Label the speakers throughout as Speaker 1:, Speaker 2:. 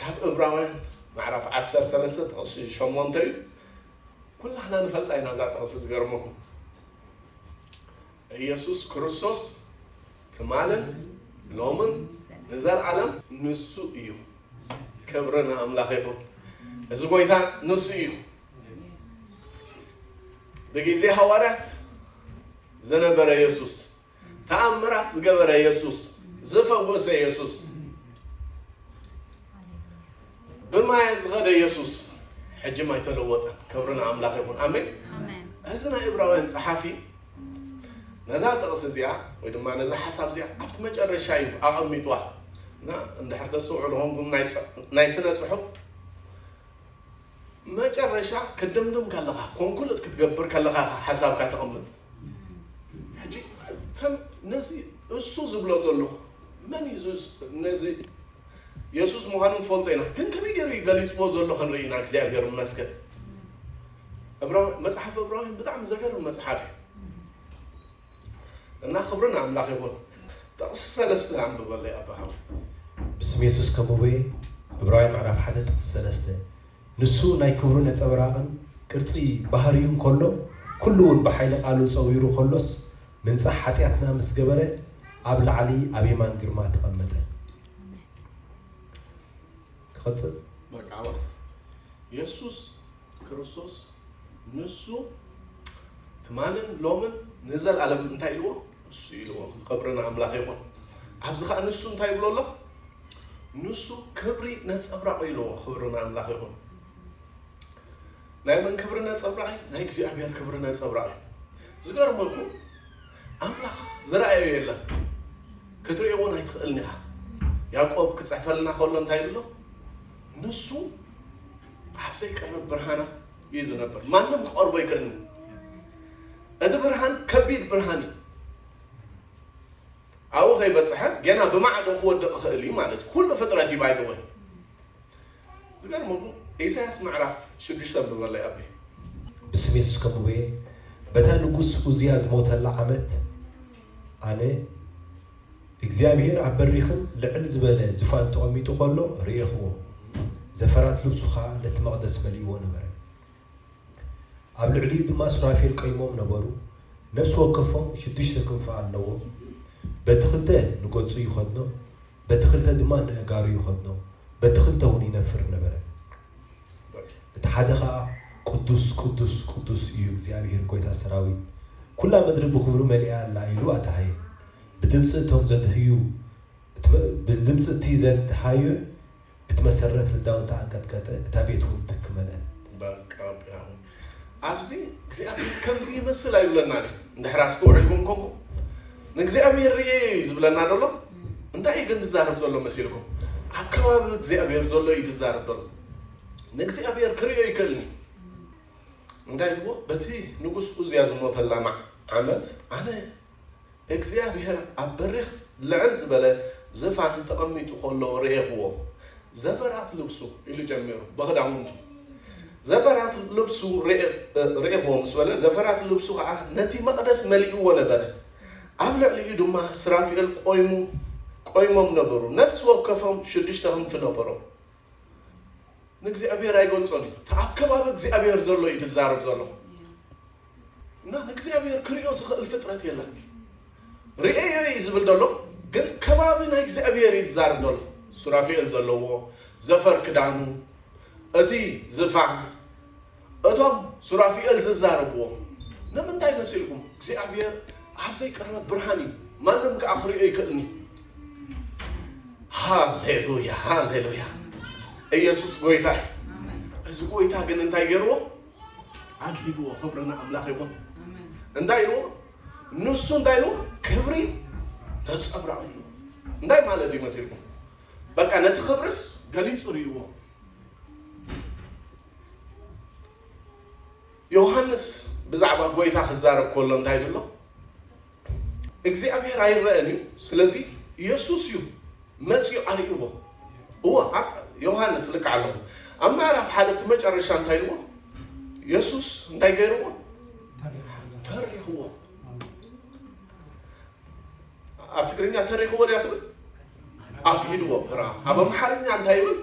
Speaker 1: ካብ እብራውያን ምዕራፍ ዓሰርተ ሰለስተ ጥቕሲ ሸሞንተ እዩ ኩላህና ንፈልጣ ኢና እዛ ጥቕሲ ዝገርመኩም ኢየሱስ ክርስቶስ ትማልን ሎምን ንዘልዓለም ንሱ እዩ ክብሪ ንኣምላኽ ይኹን እዚ ጎይታ ንሱ እዩ ብግዜ ሃዋርያት ዝነበረ የሱስ ተኣምራት ዝገበረ የሱስ ዝፈወሰ የሱስ ብማያት ዝኸደ የሱስ ሕጂም ኣይተለወጠን ክብሪ ንኣምላኽ ይኹን ኣሜን እዚ ናይ እብራውያን ፀሓፊ ነዛ ጥቕስ እዚኣ ወይ ድማ ነዛ ሓሳብ እዚኣ ኣብቲ መጨረሻ እዩ ኣቐሚጥዋ እና እንድሕር ተስውዕሉ ኮንኩም ናይ ስነ ፅሑፍ መጨረሻ ክድምድም ከለኻ ኮንኩልድ ክትገብር ከለኻ ሓሳብካ ተቐምጥ ሕጂ ከም ነዚ እሱ ዝብሎ ዘሎ መን እዩ ነዚ የሱስ ምዃኑ ንፈልጦ ኢና ግን ከመይ ገይሩ እዩ ገሊጽዎ ዘሎ ክንርኢ ኢና እግዚኣብሔር ይመስገን መጽሓፍ እብራውያን ብጣዕሚ ዘገርም መጽሓፍ እዩ እና ክብሪ ንኣምላኽ ይኹን ጥቕሲ ሰለስተ ኣንብበለይ ኣባሃም ብስም
Speaker 2: የሱስ ከሙበየ እብራውያን ምዕራፍ ሓደ ጥቕሲ ሰለስተ ንሱ ናይ ክብሩ ነጸብራቕን ቅርጺ ባህርዩን ከሎ፣ ኩሉውን ብሓይሊ ቃሉ ጸዊሩ ከሎስ፣ ምንጻሕ ሓጢኣትና ምስ ገበረ፣ ኣብ ላዕሊ ኣብ የማን ግርማ ተቐመጠ። ክቕጽል። መቃብር
Speaker 1: የሱስ ክርስቶስ ንሱ ትማልን ሎምን ንዘልኣለምን እንታይ ኢልዎ? ንሱ ኢልዎ ክብሪ ንኣምላኽ ይኹን ኣብዚ ከዓ ንሱ እንታይ ይብሎ ኣሎ ንሱ ክብሪ ነፀብራቕ ኢልዎ ክብሪ ንኣምላኽ ይኹን ናይ መን ክብሪ ነፀብራቕ እዩ ናይ እግዚኣብሔር ክብሪ ነፀብራቕ እዩ ዝገርመኩ ኣምላኽ ዝረኣዮ የለን ክትሪኦ እውን ኣይትኽእልን ኢኻ ያዕቆብ ክፅሕፈልና ከሎ እንታይ ይብሎ ንሱ ኣብ ዘይቀርብ ብርሃናት እዩ ዝነብር ማንም ክቐርቦ ኣይክእልን እቲ ብርሃን ከቢድ ብርሃን እዩ ኣብኡ ከይበፅሐ ገና ብማዕዶ ክወድቕ ይኽእል እዩ ማለት እዩ ኩሉ ፍጥረት እዩ ባይደወይ ዝገርመኩም ኢሳያስ ምዕራፍ ሽዱሽተ ብበላይ ኣቢ ብስም
Speaker 2: የሱስ ከምኡ በታ ንጉስ ኡዝያ ዝሞተላ ዓመት ኣነ እግዚኣብሄር ኣብ በሪኽን ልዕል ዝበለ ዙፋን ተቐሚጡ ኸሎ ርኤኽዎ፣ ዘፈራት ልብሱ ኸኣ ነቲ መቕደስ መሊእዎ ነበረ። ኣብ ልዕሊኡ ድማ ሱራፌል ቀይሞም ነበሩ፣ ነፍሲ ወከፎም ሽዱሽተ ክንፊ ኣለዎም፣ በቲ ኽልተ ንገጹ ይኸድኖ፣ በቲ ኽልተ ድማ ንእጋሩ ይኸድኖ፣ በቲ ኽልተ እውን ይነፍር ነበረ። እቲ ሓደ ኸኣ ቅዱስ ቅዱስ ቅዱስ እዩ እግዚኣብሄር ጐይታ ሰራዊት፣ ኵላ ምድሪ ብኽብሩ መሊኣ ኣላ ኢሉ ኣደሃየ። ብድምጺ እቶም ዘድህዩ ብድምጺ እቲ ዘድሃዩ እቲ መሰረት ልዳውንታ ኣንቀጥቀጠ፣ እታ ቤትውን ትኪ መልአት። ባብ ቃብ
Speaker 1: ያሆብ ኣብዚ እግዚኣብሔር ከምዚ ይመስል ኣይብለናን እዩ እንድሕር ኣስተውዕልኩም ኮንኩም ንእግዚኣብሔር ርኤ እዩ ዝብለና ደሎ እንታይ እዩ ግን ትዛረብ ዘሎ መሲልኩም ኣብ ከባቢ እግዚኣብሔር ዘሎ እዩ ትዛረብ ደሎ ንእግዚኣብሔር ክርዮ ይክእልኒ እንታይ ብዎ በቲ ንጉስ ኡዝያ ዝሞተላ ዓመት ኣነ እግዚኣብሄር ኣብ በሪኽ ልዕል ዝበለ ዝፋን ተቐሚጡ ኸሎ ርኤኽዎ። ዘፈራት ልብሱ ኢሉ ጀሚሩ፣ ብኽዳውንቱ ዘፈራት ልብሱ ርኤኽዎ ምስ በለ፣ ዘፈራት ልብሱ ኸዓ ነቲ መቕደስ መሊእዎ ነበረ። ኣብ ልዕሊኡ ድማ ሱራፊኤል ቈይሞም ነበሩ፣ ነፍሲ ወከፎም ሽዱሽተ ኽንፊ ነበሮም። ንእግዚኣብሔር ኣይገልጾን እዩ እቲ ኣብ ከባቢ እግዚኣብሔር ዘሎ እዩ ድዛረብ ዘለኹ እና ንእግዚኣብሔር ክሪኦ ዝኽእል ፍጥረት የለን ርእዮ እዩ ዝብል ዘሎ ግን ከባቢ ናይ እግዚኣብሔር እዩ ዝዛርብ ዘሎ ሱራፌኤል ዘለዎ ዘፈር ክዳኑ እቲ ዝፋን እቶም ሱራፊኤል ዝዛረብዎም ንምንታይ መሲልኩም እግዚኣብሔር ኣብ ዘይቅረብ ብርሃን እዩ ማንም ከዓ ክሪኦ ይክእልኒ ሃሌሉያ ሃሌሉያ ኢየሱስ ጎይታ እዚ ጎይታ ግን እንታይ ገይርዎ ኣግሂድዎ ክብሪ ንኣምላኽ ይኹን እንታይ ኢልዎ ንሱ እንታይ ኢልዎ ክብሪ ነፀብራቕ እዩ እንታይ ማለት እዩ መሲልኩም በቃ ነቲ ክብርስ ገሊፁ ርእይዎ ዮሃንስ ብዛዕባ ጎይታ ክዛረብ ኮሎ እንታይ ብሎ? እግዚኣብሔር ኣይረአን እዩ ስለዚ ኢየሱስ እዩ መጽኡ ኣርእይዎ እዎ ዮሃንስ ልክዕ ኣለኹ ኣብ ምዕራፍ ሓደ እቲ መጨረሻ እንታይ ልዎ ኢየሱስ እንታይ ገይርዎ ተሪኽዎ ኣብ ትግርኛ ተሪኽዎ ድያ ትብል ኣግሂድዎ ብራ ኣብ ኣምሓርኛ እንታይ ይብል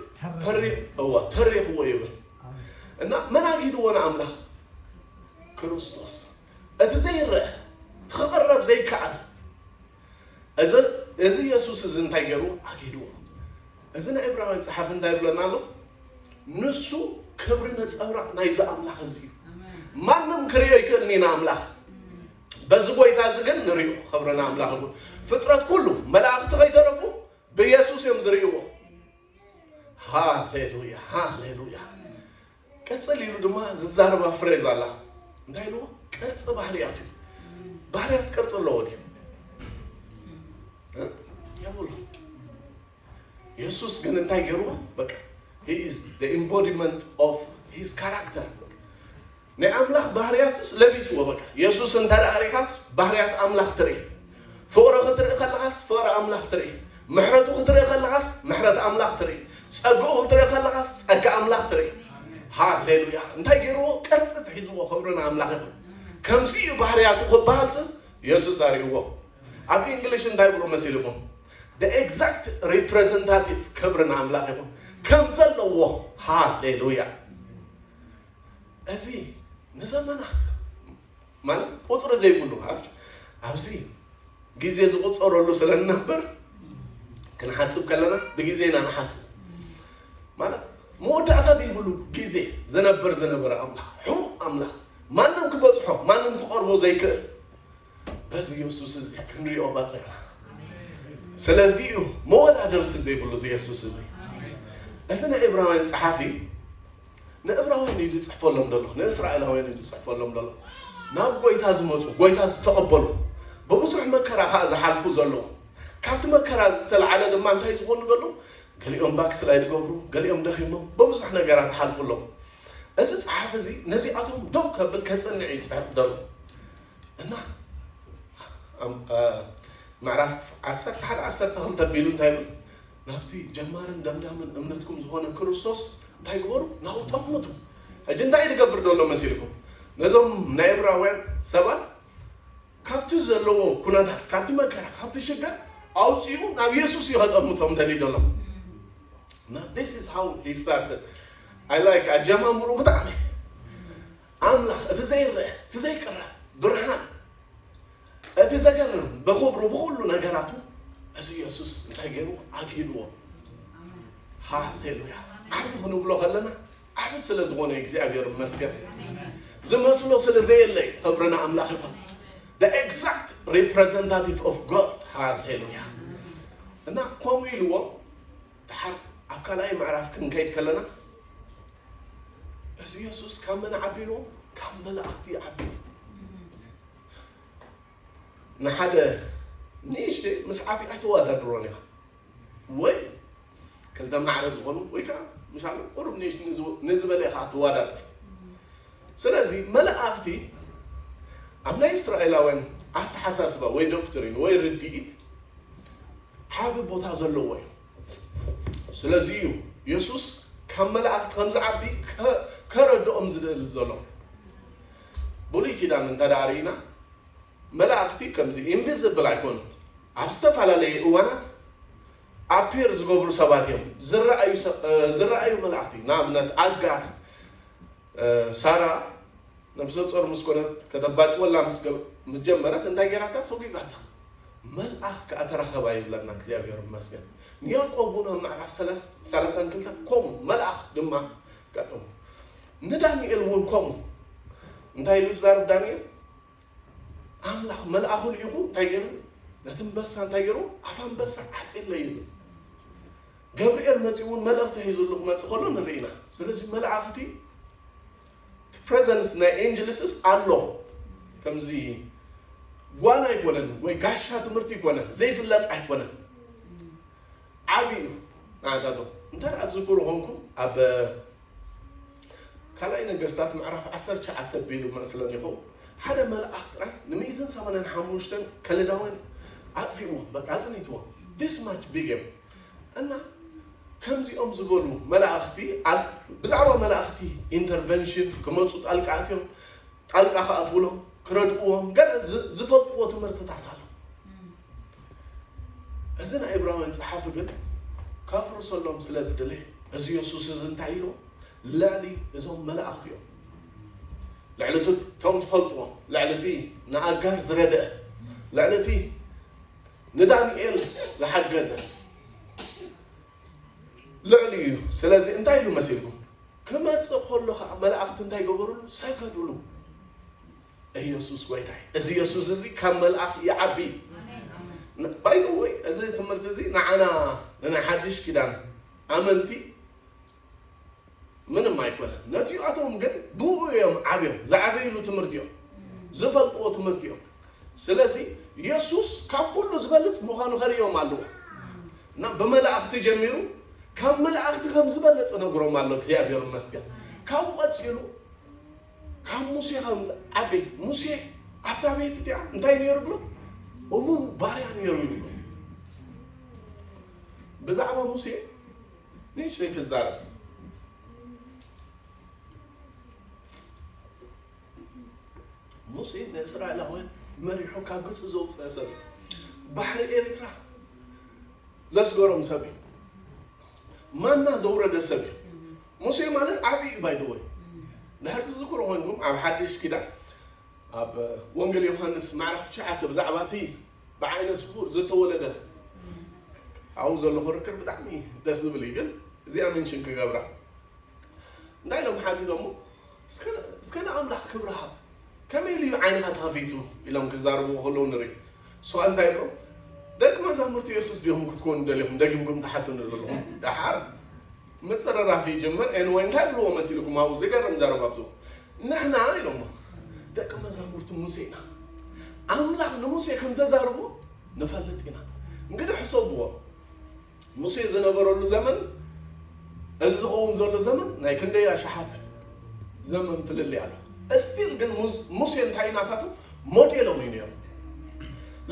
Speaker 1: እዋ ተሪኽዎ ይብል እና መን ኣግሂድዎ ንኣምላኽ ክርስቶስ እቲ ዘይረአ ክቐረብ ዘይከኣል እዚ የሱስ እዚ እንታይ ገይሩ ኣግሂድዎ እዚ ናይ ዕብራውያን ፀሓፊ እንታይ ይብለና ኣሎ ንሱ ክብሪ ነፀብራቕ ናይዚ ኣምላኽ እዚ እዩ ማንም ክርእዮ ይክእልኒ ንኣምላኽ በዚ ጎይታ እዚ ግን ንሪኦ ክብሪ ንኣምላኽ ይኹን ፍጥረት ኩሉ መላእኽቲ ከይተረፉ ብየሱስ እዮም ዝርእይዎ ሃሌሉያ ሃሌሉያ ቅፅል ኢሉ ድማ ዝዛረባ ፍሬዝ ኣላ እንታይ ኢልዎ ቅርፂ ባህርያት እዩ ባህርያት ቅርፂ ኣለዎ ድዩ የብሉ የሱስ ግን እንታይ ገይርዎ በቃ ሂ ኢዝ ኢምቦዲመንት ኦፍ ሂዝ ካራክተር ናይ ኣምላኽ ባህርያትስ ለቢስዎ በቃ። የሱስ እንተ ርኢኻስ ባህርያት ኣምላኽ ትርኢ። ፍቕሩ ክትርኢ ከለኻስ ፍቕሪ ኣምላኽ ትርኢ። ምሕረቱ ክትርኢ ከለኻስ ምሕረት ኣምላኽ ትርኢ። ጸግኡ ክትርኢ ከለኻስ ጸጋ ኣምላኽ ትርኢ። ሃሌሉያ! እንታይ ገይርዎ? ቅርጽት ሒዝዎ። ክብሪ ንኣምላኽ ይኹን። ከምዚ እዩ ባህርያቱ ክበሃልስስ የሱስ ኣርእይዎ። ኣብ እንግሊሽ እንታይ ብሎ መሲልኩም? the exact representative ክብሪ ንኣምላኽ ይኹን ከም ዘለዎ ሃሌሉያ እዚ ንዘመናት ማለት ቁፅሪ ዘይብሉ ሃብት ኣብዚ ግዜ ዝቁፀረሉ ስለንነበር ክንሓስብ ከለና ብግዜ ኢና ንሓስብ ማለት መወዳእታ ዘይብሉ ግዜ ዝነበር ዝነበረ ኣምላኽ ሕሙቕ ኣምላኽ ማንም ክበፅሖ ማንም ክቐርቦ ዘይክእል በዚ የሱስ እዚ ክንሪኦ ኣለና ስለዚ እዩ መወዳድርቲ ዘይብሉ እዚ የሱስ እዚ እዚ ናይ እብራውያን ፀሓፊ ንእብራውያን እዩ ዝፅሕፈሎም ዘሎ ንእስራኤላውያን እዩ ዝፅሕፈሎም ዘሎ ናብ ጎይታ ዝመፁ ጎይታ ዝተቐበሉ ብብዙሕ መከራ ከዓ ዝሓልፉ ዘለዉ ካብቲ መከራ ዝተለዓለ ድማ እንታይ ዝኾኑ ዘሎ ገሊኦም ባክስላይ ዝገብሩ ገሊኦም ደኺሞም ብብዙሕ ነገራት ሓልፉ ኣለዉ እዚ ፀሓፊ እዚ ነዚኣቶም ደው ከብል ከፅንዕ ይፅሕፍ ዘሎ እና ምዕራፍ ዓሰርተ ሓደ ዓሰርተ ክልተ ኣቢሉ እንታይ ይብል ናብቲ ጀማርን ደምዳምን እምነትኩም ዝኾነ ክርስቶስ እንታይ ግበሩ ናብኡ ጠምቱ ሕጂ እንታይ ትገብር ደሎ መሲልኩም ነዞም ናይ እብራውያን ሰባት ካብቲ ዘለዎ ኩነታት ካብቲ መከራ ካብቲ ሽግር ኣውፅኡ ናብ የሱስ እዩ ከጠምቶም ደልዩ ደሎ ስ ሃው ስታርትድ ኣይ ላይክ ኣጀማምሩ ብጣዕሚ ኣምላኽ እቲ ዘይረኣ እቲ ዘይቅረ ብርሃን እቲ ዘገርም ብኽብሩ ብኹሉ ነገራቱ እዚ የሱስ እንታይ ገይሩ ኣግሂድዎ ሃሌሉያ ዓብ ክንብሎ ከለና ዓብ ስለ ዝኾነ እግዚኣብሔር ይመስገን ዝመስሎ ስለ ዘየለ እዩ ክብሪ ንኣምላኽ ይኹን the exact representative of God ሃሌሉያ እና ከምኡ ኢልዎ ደሓር ኣብ ካልኣይ ምዕራፍ ክንከይድ ከለና እዚ የሱስ ካብ መን ዓቢሉ ካብ መላእኽቲ ዓቢሉ ንሓደ ንእሽተይ ምስ ዓብዪ ኣይተወዳድሮን ኢኻ ወይ ክልተ ማዕረ ዝኾኑ ወይ ከዓ ምሻሉ ቁሩብ ንእሽት ንዝበለ ኢኻ ትወዳድር ስለዚ መላእኽቲ ኣብ ናይ እስራኤላውያን ኣተሓሳስባ ወይ ዶክትሪን ወይ ርድኢት ዓቢ ቦታ ዘለዎ እዩ። ስለዚ እዩ የሱስ ካብ መላእኽቲ ከም ዝዓቢ ከረድኦም ዝደሊ ዘሎ። ብሉይ ኪዳን እንተ ርኢና መላእኽቲ ከምዚ ኢንቪዝብል ኣይኮኑን። ኣብ ዝተፈላለየ እዋናት ኣፒር ዝገብሩ ሰባት እዮም፣ ዝረኣዩ መላእኽቲ። ንኣብነት ኣጋር ሳራ ነብሰጾር ምስ ኮነት ከተባጭወላ ምስ ጀመረት እንታይ ጌራታ ሰጒጋታ መልኣኽ ከኣ ተራኸባ ይብለና እግዚኣብሔር ይመስገን ንያቆብ ውን ኣብ ምዕራፍ ሰላሳን ክልተን ኮሙ መልኣኽ ድማ ኣጋጠሞ ንዳንኤል ውን ኮሙ እንታይ ኢሉ ይዛረብ ዳንኤል ኣምላኽ መልኣኹ ልኢኹ እንታይ ገይሩ ነቲ ኣንበሳ እንታይ ገይሩ ኣፍ ኣንበሳ ዓፂለ ይብል ገብርኤል መፂኡ እውን መልእኽቲ ሒዙሉ ክመፅእ ከሎ ንርኢ ኢና ስለዚ መላእኽቲ ፕሬዘንስ ናይ ኤንጅልስስ ኣሎ ከምዚ ጓል ኣይኮነን ወይ ጋሻ ትምህርቲ ይኮነ ዘይፍለጥ ኣይኮነ ዓብዩ ናታቶ እንታይ ዝክሩ ኾንኩም ኣብ ካልኣይ ነገስታት ምዕራፍ ዓሰርተ ትሽዓተ ኣቢሉ መእስለሚኹም ሓደ መልኣኽ ጥራይ ንሚእትን ሰማንያን ሓሙሽተን ከለዳውያን ኣጥፊእዎም በቃ ኣጽኒትዎም this much big እዮም እና ከምዚኦም ዝበሉ መላእኽቲ ብዛዕባ መላእኽቲ ኢንተርቨንሽን ክመፁ ጣልቃ ኣትዮም ጣልቃ ክኣትውሎም ክረድእዎም ገለ ዝፈልጥዎ ትምህርትታት ኣሎ እዚ ናይ ዕብራውያን ጸሓፊ ግን ከፍርሰሎም ስለ ዝደለየ እዚ የሱስ እዚ እንታይ ኢሉ ልዕሊ እዞም መላእኽቲ እዮም ልዕሊ እቲ እቶም ትፈልጥዎም ልዕሊ እቲ ንኣጋር ዝረድአ ልዕሊ እቲ ንዳንኤል ዝሓገዘ ልዕሊ እዩ ስለዚ እንታይ ኢሉ መሲልኩም ክመጽእ ከሎ ከዓ መላእኽቲ እንታይ ገበሩሉ ሰገዱሉ ኢየሱስ ጎይታይ እዚ ኢየሱስ እዚ ካብ መልኣኽ ይዓቢ ባይ ዘ ወይ እዚ ትምህርቲ እዚ ንዓና ንናይ ሓድሽ ኪዳን ኣመንቲ ምንም ኣይኮነን ነቲኣቶም ግን ብኡ እዮም ዓብዮም ዝዓበይሉ ትምህርቲ እዮም ዝፈልጥዎ ትምህርቲ እዮም ስለዚ ኢየሱስ ካብ ኩሉ ዝበልፅ ምዃኑ ከርእዮም ኣለዎ እና ብመላእኽቲ ጀሚሩ ካብ መላእኽቲ ከም ዝበልፅ ነግሮም ኣሎ እግዚኣብሔር ይመስገን ካብኡ ቀፂሉ ካብ ሙሴ ከም ዝዓበይ ሙሴ ኣብታ ቤት እቲኣ እንታይ ነይሩ ብሎ እሙን ባርያ ነይሩ ይብሎ ብዛዕባ ሙሴ ንእሽተይ ክዛረብ ሙሴ ንእስራኤላውያን መሪሑ ካብ ግብፂ ዘውፅአ ሰብ እዩ። ባሕሪ ኤርትራ ዘስገሮም ሰብ እዩ። ማና ዘውረደ ሰብ እዩ። ሙሴ ማለት ዓቢ እዩ ባይ ዘ ወይ ድሕር ትዝክሩ ኮይንኩም ኣብ ሓድሽ ኪዳን ኣብ ወንጌል ዮሃንስ ምዕራፍ ትሽዓተ ብዛዕባ እቲ ብዓይነ ስውር ዝተወለደ ኣብኡ ዘሎ ክርክር ብጣዕሚ ደስ ዝብል እዩ ግን እዚኣ ምንሽን ክገብራ እንታይ ኢሎም ሓቲቶሞ እስከ ንኣምላኽ ክብሪ ሃብ ከመይ ኢሉ እዩ ዓይንኻ ተኸፊቱ ኢሎም ክዛረብዎ ከለዉ ንርኢ እሱ ከዓ እንታይ ይብሎም ደቂ መዛሙርቲ የሱስ ዲኹም ክትኮኑ ደሊኹም ደጊምኩም ትሓትኑ ዘለኹም ደሓር ምጽርራር ክይጅምር Anyway እንታይ ብልዎ መሲልኩም ኣብኡ ዝገርም ዘረባ ኣብዙ ንሕና ኢሎሞ ደቂ መዛሙርቲ ሙሴ ኢና ኣምላኽ ንሙሴ ከም ተዛርቦ ንፈልጥ ኢና እንግዲህ ሕሰብዎ ሙሴ ዝነበረሉ ዘመን እዚ ዝኸውን ዘሎ ዘመን ናይ ክንደይ ኣሽሓት ዘመን ፍልልይ ኣሎ እስቲል ግን ሙሴ እንታይ ናታቶም ሞዴሎም እዩ ነይሩ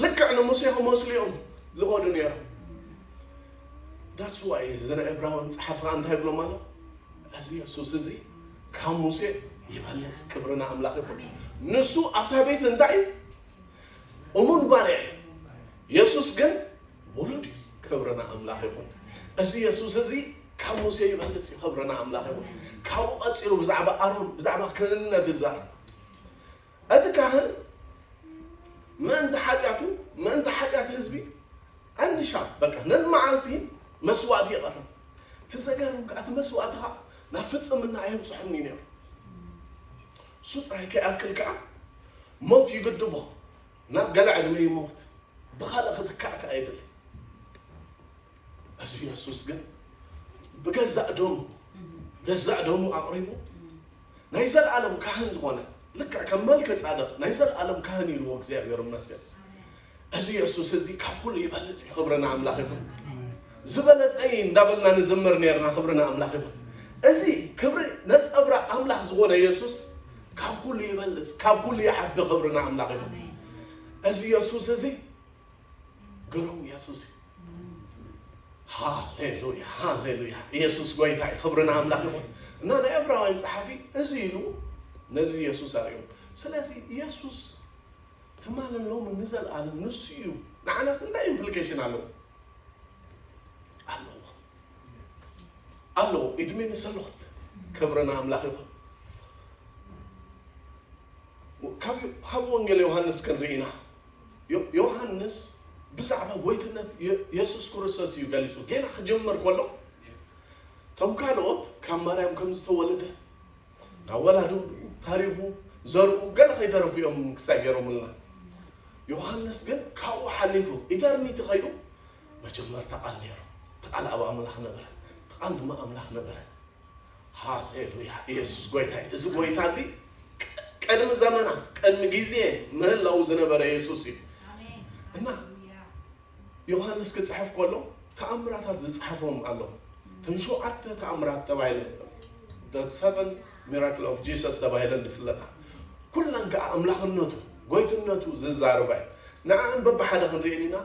Speaker 1: ልክዕ ንሙሴ ክመስሉ እዮም ዝኸዱ ነይሮም That's why እዚ ናይ ዕብራውያን ጸሓፊ ከኣ እንታይ ይብሎም ኣሎ? እዚ የሱስ እዚ ካብ ሙሴ ይበልጽ። ክብሪ ንኣምላኽ ይኹን። ንሱ ኣብታ ቤት እንታይ እዩ? እሙን ባርያ እዩ። የሱስ ግን ውሉድ እዩ። ክብሪ ንኣምላኽ ይኹን። እዚ የሱስ እዚ ካብ ሙሴ ይበልጽ እዩ። ክብሪ ንኣምላኽ ይኹን። ካብኡ ቀጺሉ ብዛዕባ ኣሮን ብዛዕባ ክህንነት ይዛረብ። እቲ ካህን ምእንቲ ሓጢኣቱ ምእንቲ ሓጢኣት ህዝቢ ኣንሻብ በቃ ነንመዓልቲ መስዋእቲ የቐርብ። እቲ ዘገርም ከኣ እቲ መስዋእቲ ከኣ ናብ ፍጽምና ኣየብጽሖን እዩ ነይሩ። እሱ ጥራይ ከይኣክል ከኣ ሞት ይግድቦ፣ ናብ ገለ ዕድመ ይመውት፣ ብኻልእ ክትካእ ከኣ ይደሊ። እዚ የሱስ ግን ብገዛእ ደሙ ገዛእ ደሙ ኣቕሪቡ ናይ ዘለኣለም ካህን ዝኾነ ልክዕ ከም መልከ ጻድቕ ናይ ዘለኣለም ካህን ኢልዎ እግዚኣብሔር ይመስገን እዚ የሱስ እዚ ካብ ኩሉ ይበልፅ እዩ ክብሪ ንኣምላኽ ይኹን ዝበለፀ እዩ እንዳበልና ንዝምር ነርና ክብሪ ንኣምላኽ ይኹን እዚ ክብሪ ነፀብራ ኣምላኽ ዝኾነ የሱስ ካብ ኩሉ ይበልፅ ካብ ኩሉ ይዓቢ ክብሪ ንኣምላኽ ይኹን እዚ የሱስ እዚ ግሩም የሱስ ሃሌሉያ ሃሌሉያ ኢየሱስ ጎይታ እዩ ክብሪ ንኣምላኽ ይኹን እና ናይ ዕብራውያን ጸሓፊ እዚ ኢሉ ነዚ ኢየሱስ ኣርእዩ ስለዚ ኢየሱስ ትማል ሎሚ ንዘለኣለም ንሱ እዩ ንዓናስ እንታይ ኢምፕሊኬሽን ኣለዎ ኣለዎ ኣለዎ እድሜ ንሰሎት ክብሪ ንኣምላኽ ይኹን ካብ ወንጌል ዮሃንስ ክንርኢና ዮሃንስ ብዛዕባ ጎይትነት የሱስ ክርስቶስ እዩ ገሊጹ። ጌና ክጅምር ከሎ ከም ካልኦት ካብ ማርያም ከም ዝተወለደ ካብ ወላዱ ታሪኹ ዘርኡ ገለ ከይተረፉ እዮም ክሳይ ገይሮምልና። ዮሃንስ ግን ካብኡ ሓሊፉ ኢተርኒቲ ከይዱ መጀመርታ ቃል ነይሩ፣ እቲ ቃል ኣብ ኣምላኽ ነበረ፣ እቲ ቃል ድማ ኣምላኽ ነበረ። ሃሌሉያ ኢየሱስ ጎይታ እዩ። እዚ ጎይታ እዚ ቀድሚ ዘመናት ቀድሚ ግዜ ምህላው ዝነበረ ኢየሱስ እዩ እና ዮሐንስ ክጽሕፍ ከሎ ተኣምራታት ዝጽሐፎም ኣሎ እተን ሸውዓተ ተኣምራት ተባሂለን ሰቨን ሚራክል ኦፍ ጂሰስ ተባሂለን ዝፍለጣ ኩለን ከዓ ኣምላኽነቱ ጎይትነቱ ዝዛርባ እዩ ንዓን በብሓደ ክንሪኤን ኢና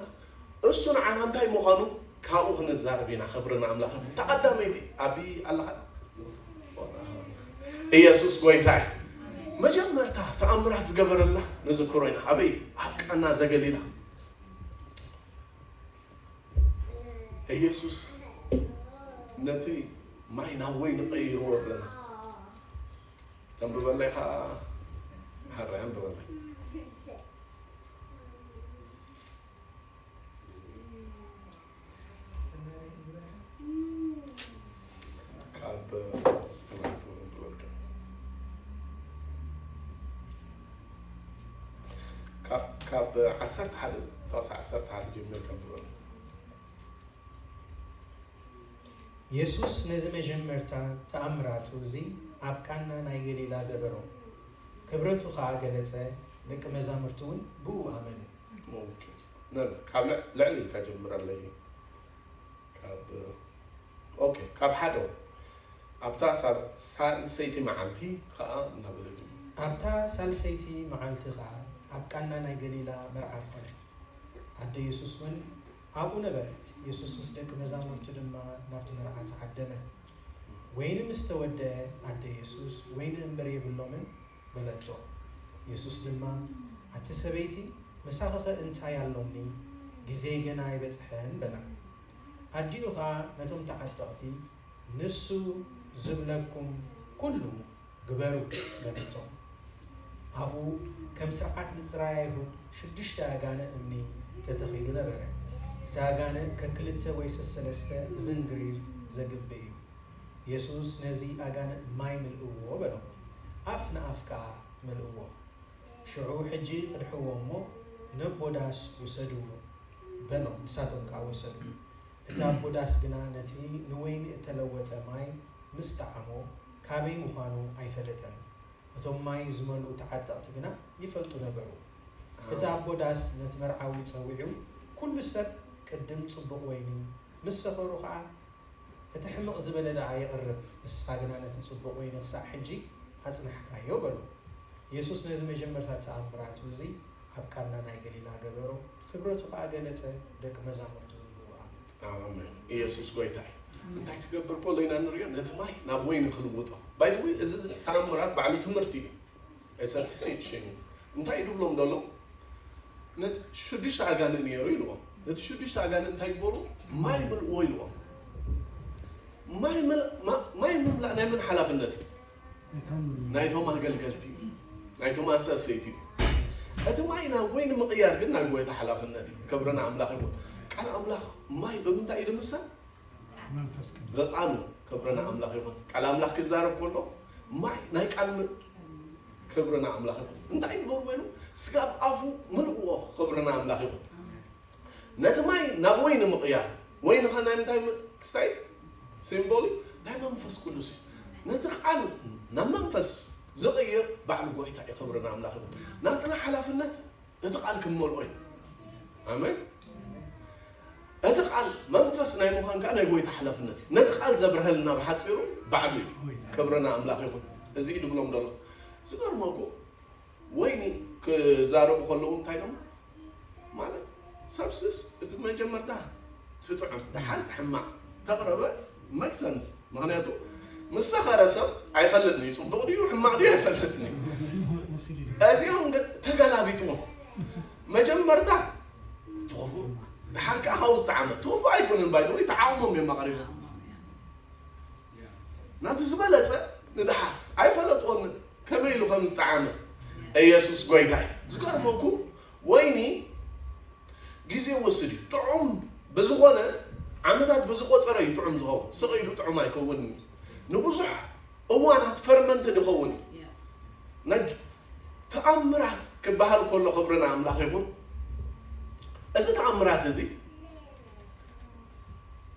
Speaker 1: እሱ ንዓና እንታይ ምዃኑ ካብኡ ክንዛረብ ኢና ክብሪ ንኣምላኽ ይኹን ተቀዳመይቲ ኣቢ ኣለኻ ዶ ኢየሱስ ጎይታ እዩ መጀመርታ ተኣምራት ዝገበረልና ንዝክሮ ኢና ኣበይ ኣብ ቃና ዘገሊላ ኢየሱስ ነቲ ማይ ናብ ወይኒ ቀይርዎ ኣለና ተንብበለይ ከዓ ሓራይ ኣንብበለይ ካብ ዓሰርተ ሓደ ጥቕሲ ዓሰርተ ሓደ ጀሚር ከም ዝበሎ
Speaker 3: የሱስ ነዚ መጀመርታ ተኣምራቱ እዚ ኣብ ቃና ናይ ገሊላ ገበሮ። ክብረቱ ኸኣ ገለጸ፣ ደቂ መዛሙርቱውን ብእኡ ኣመኑ። ኦኬ
Speaker 1: ነን ካብ ልዕ ልዕል ኢልካ ጀምረለይ ካብ ኦኬ ካብ ሓደ ኣብታ ሳብ ሳልሰይቲ መዓልቲ ኸኣ እናበለ ጀመረ። ኣብታ
Speaker 3: ሳልሰይቲ መዓልቲ ኸኣ ኣብ ቃና ናይ ገሊላ መርዓ ኰነ፣ ኣደ የሱስውን ኣብኡ ነበረት። የሱስ ምስ ደቂ መዛሙርቱ ድማ ናብቲ መርዓ ተዓደመ። ወይኒ ምስ ተወድአ፣ ኣደ የሱስ፣ ወይኒ እምብር የብሎምን፣ በለቶ። የሱስ ድማ፣ ኣቲ ሰበይቲ፣ ምሳኺኸ እንታይ ኣሎኒ? ግዜይ ገና ኣይበጽሐን፣ በላ። ኣዲኡ ኸኣ ነቶም ተዓጠቕቲ፣ ንሱ ዝብለኩም ኵሉ ግበሩ በለቶም። ኣብኡ ከም ስርዓት ምጽራይ ኣይሁድ ሽዱሽተ ኣጋነ እምኒ ተተኺሉ ነበረ። እቲ ኣጋነ ከክልተ ወይ ሰሰለስተ ዝንግሪር ዘግብ እዩ። የሱስ ነዚ ኣጋነ ማይ ምልእዎ በሎም። ኣፍ ንኣፍ ከኣ መልእዎ። ሽዑ ሕጂ ቅድሕዎ እሞ ነቦ ዳስ ውሰዱ በሎም። ንሳቶም ከኣ ወሰዱ። እቲ ኣቦ ዳስ ግና ነቲ ንወይኒ እተለወጠ ማይ ምስ ጠዓሞ ካበይ ምዃኑ ኣይፈለጠን። እቶም ማይ ዝመልኡ ተዓጠቕቲ ግና ይፈልጡ ነበሩ። እቲ ኣቦ ዳስ ነቲ መርዓዊ ጸዊዑ፣ ኵሉ ሰብ ቅድም ጽቡቕ ወይኒ፣ ምስ ሰኸሩ ኸኣ እቲ ሕምቕ ዝበለ ደኣ የቕርብ፣ ንስኻ ግና ነቲ ጽቡቕ ወይኒ ኽሳዕ ሕጂ ኣጽናሕካዮ፣ በሎ። የሱስ ነዚ መጀመርታ ተኣምራቱ እዚ ኣብ ቃና ናይ ገሊላ ገበሮ፣ ክብረቱ ኸኣ ገለጸ፣ ደቂ መዛሙርቱ እውን ብእኡ ኣመኑ። ኣሜን
Speaker 1: ኢየሱስ ጎይታ እዩ እንታይ ክገብር ከሎ ኢና ንሪኦ ነቲ ማይ ናብ ወይኒ ክልውጦ ባይ ዘ ወይ እዚ ተኣምራት ባዕሉ ትምህርቲ እዩ እሰ ቲቺንግ እንታይ ድብሎም ደሎ ነቲ ሽዱሽተ ኣጋንን ነይሩ ኢልዎም ነቲ ሽዱሽተ ኣጋንን እንታይ ግበሩ ማይ ምልእዎ ኢልዎም ማይ ምል- ማ- ማይ ምምላእ ናይ መን ሓላፍነት እዩ ናይቶም ኣገልገልቲ እዩ፣ ናይቶም ኣሰሰይቲ እዩ። እቲ ማይ ናብ ወይኒ ምቕያር ግን ናይ ጎይታ ሓላፍነት እዩ። ክብሪ ንኣምላኽ ይኹን። ቃል ኣምላኽ ማይ ብምንታይ እዩ ድምሰል? መንፈስ ቅዱስ ብቃሉ። ክብሪ ንኣምላኽ ይኹን። ቃል ኣምላኽ ክዛረብ ከሎ ማይ ናይ ቃል ም- ክብሪ ንኣምላኽ ይኹን። እንታይ ይገብርዎ ኢሉ ስጋብ ኣፉ ምልእዎ። ክብሪ ንኣምላኽ ይኹን። ነቲ ማይ ናብ ወይኒ ምቕያር፣ ወይኒ ከ ናይ ምንታይ ክስታይ እዩ? ሲምቦል እዩ፣ ናይ መንፈስ ቅዱስ እዩ። ነቲ ቃል ናብ መንፈስ ዝቕይር ባዕሉ ጎይታ እዩ፣ ክብሪ ንኣምላኽ ይኹን። ናትና ሓላፍነት እቲ ቃል ክንመልኦ እዩ። ኣሜን። እቲ ቃል መንፈስ ናይ ምዃን ከዓ ናይ ጎይታ ሓላፍነት እዩ። ነቲ ቃል ዘብርሀልና ብሓፂሩ ባዕሉ እዩ፣ ክብሪ ንኣምላኽ ይኹን። እዚ እዩ ድብሎም ደሎ ዝገርመኩ ወይኒ ክዛረቡ ከለዉ እንታይ ኢሎም ማለት ሰብስስ እቲ መጀመርታ ትጥዑም ደሓር ትሕማቕ ተቕረበ make sense ምኽንያቱ ምስ ሰኸረ ሰብ ኣይፈልጥን እዩ ጽቡቕ ድዩ ሕማቕ ድዩ ኣይፈልጥን እዩ እዚኦም ግን ተገላቢጥዎም መጀመርታ ትኹፉ ደሓር ከዓ ካብኡ ዝተዓመ ትኹፉ ኣይኮንን ባይደወይ ተዓቕሞም እዮም ኣቕሪቦም ናቱ ዝበለጸ ንድሓር ኣይፈለጥዎን ከመይ ኢሉ ከም ዝጠዓመ ኢየሱስ ጎይታ እዩ ዝገርመኩም ወይኒ ግዜ ወስድ እዩ ጥዑም ብዝኾነ ዓመታት ብዝቆጸረ እዩ ጥዑም ዝኸውን ስቕ ኢሉ ጥዑም ኣይከውንን እዩ ንብዙሕ እዋናት ፈርመንት ድኸውን እዩ ነግ ተኣምራት ክበሃል ከሎ ክብሪ ንኣምላኽ ይኹን እዚ ተኣምራት እዚ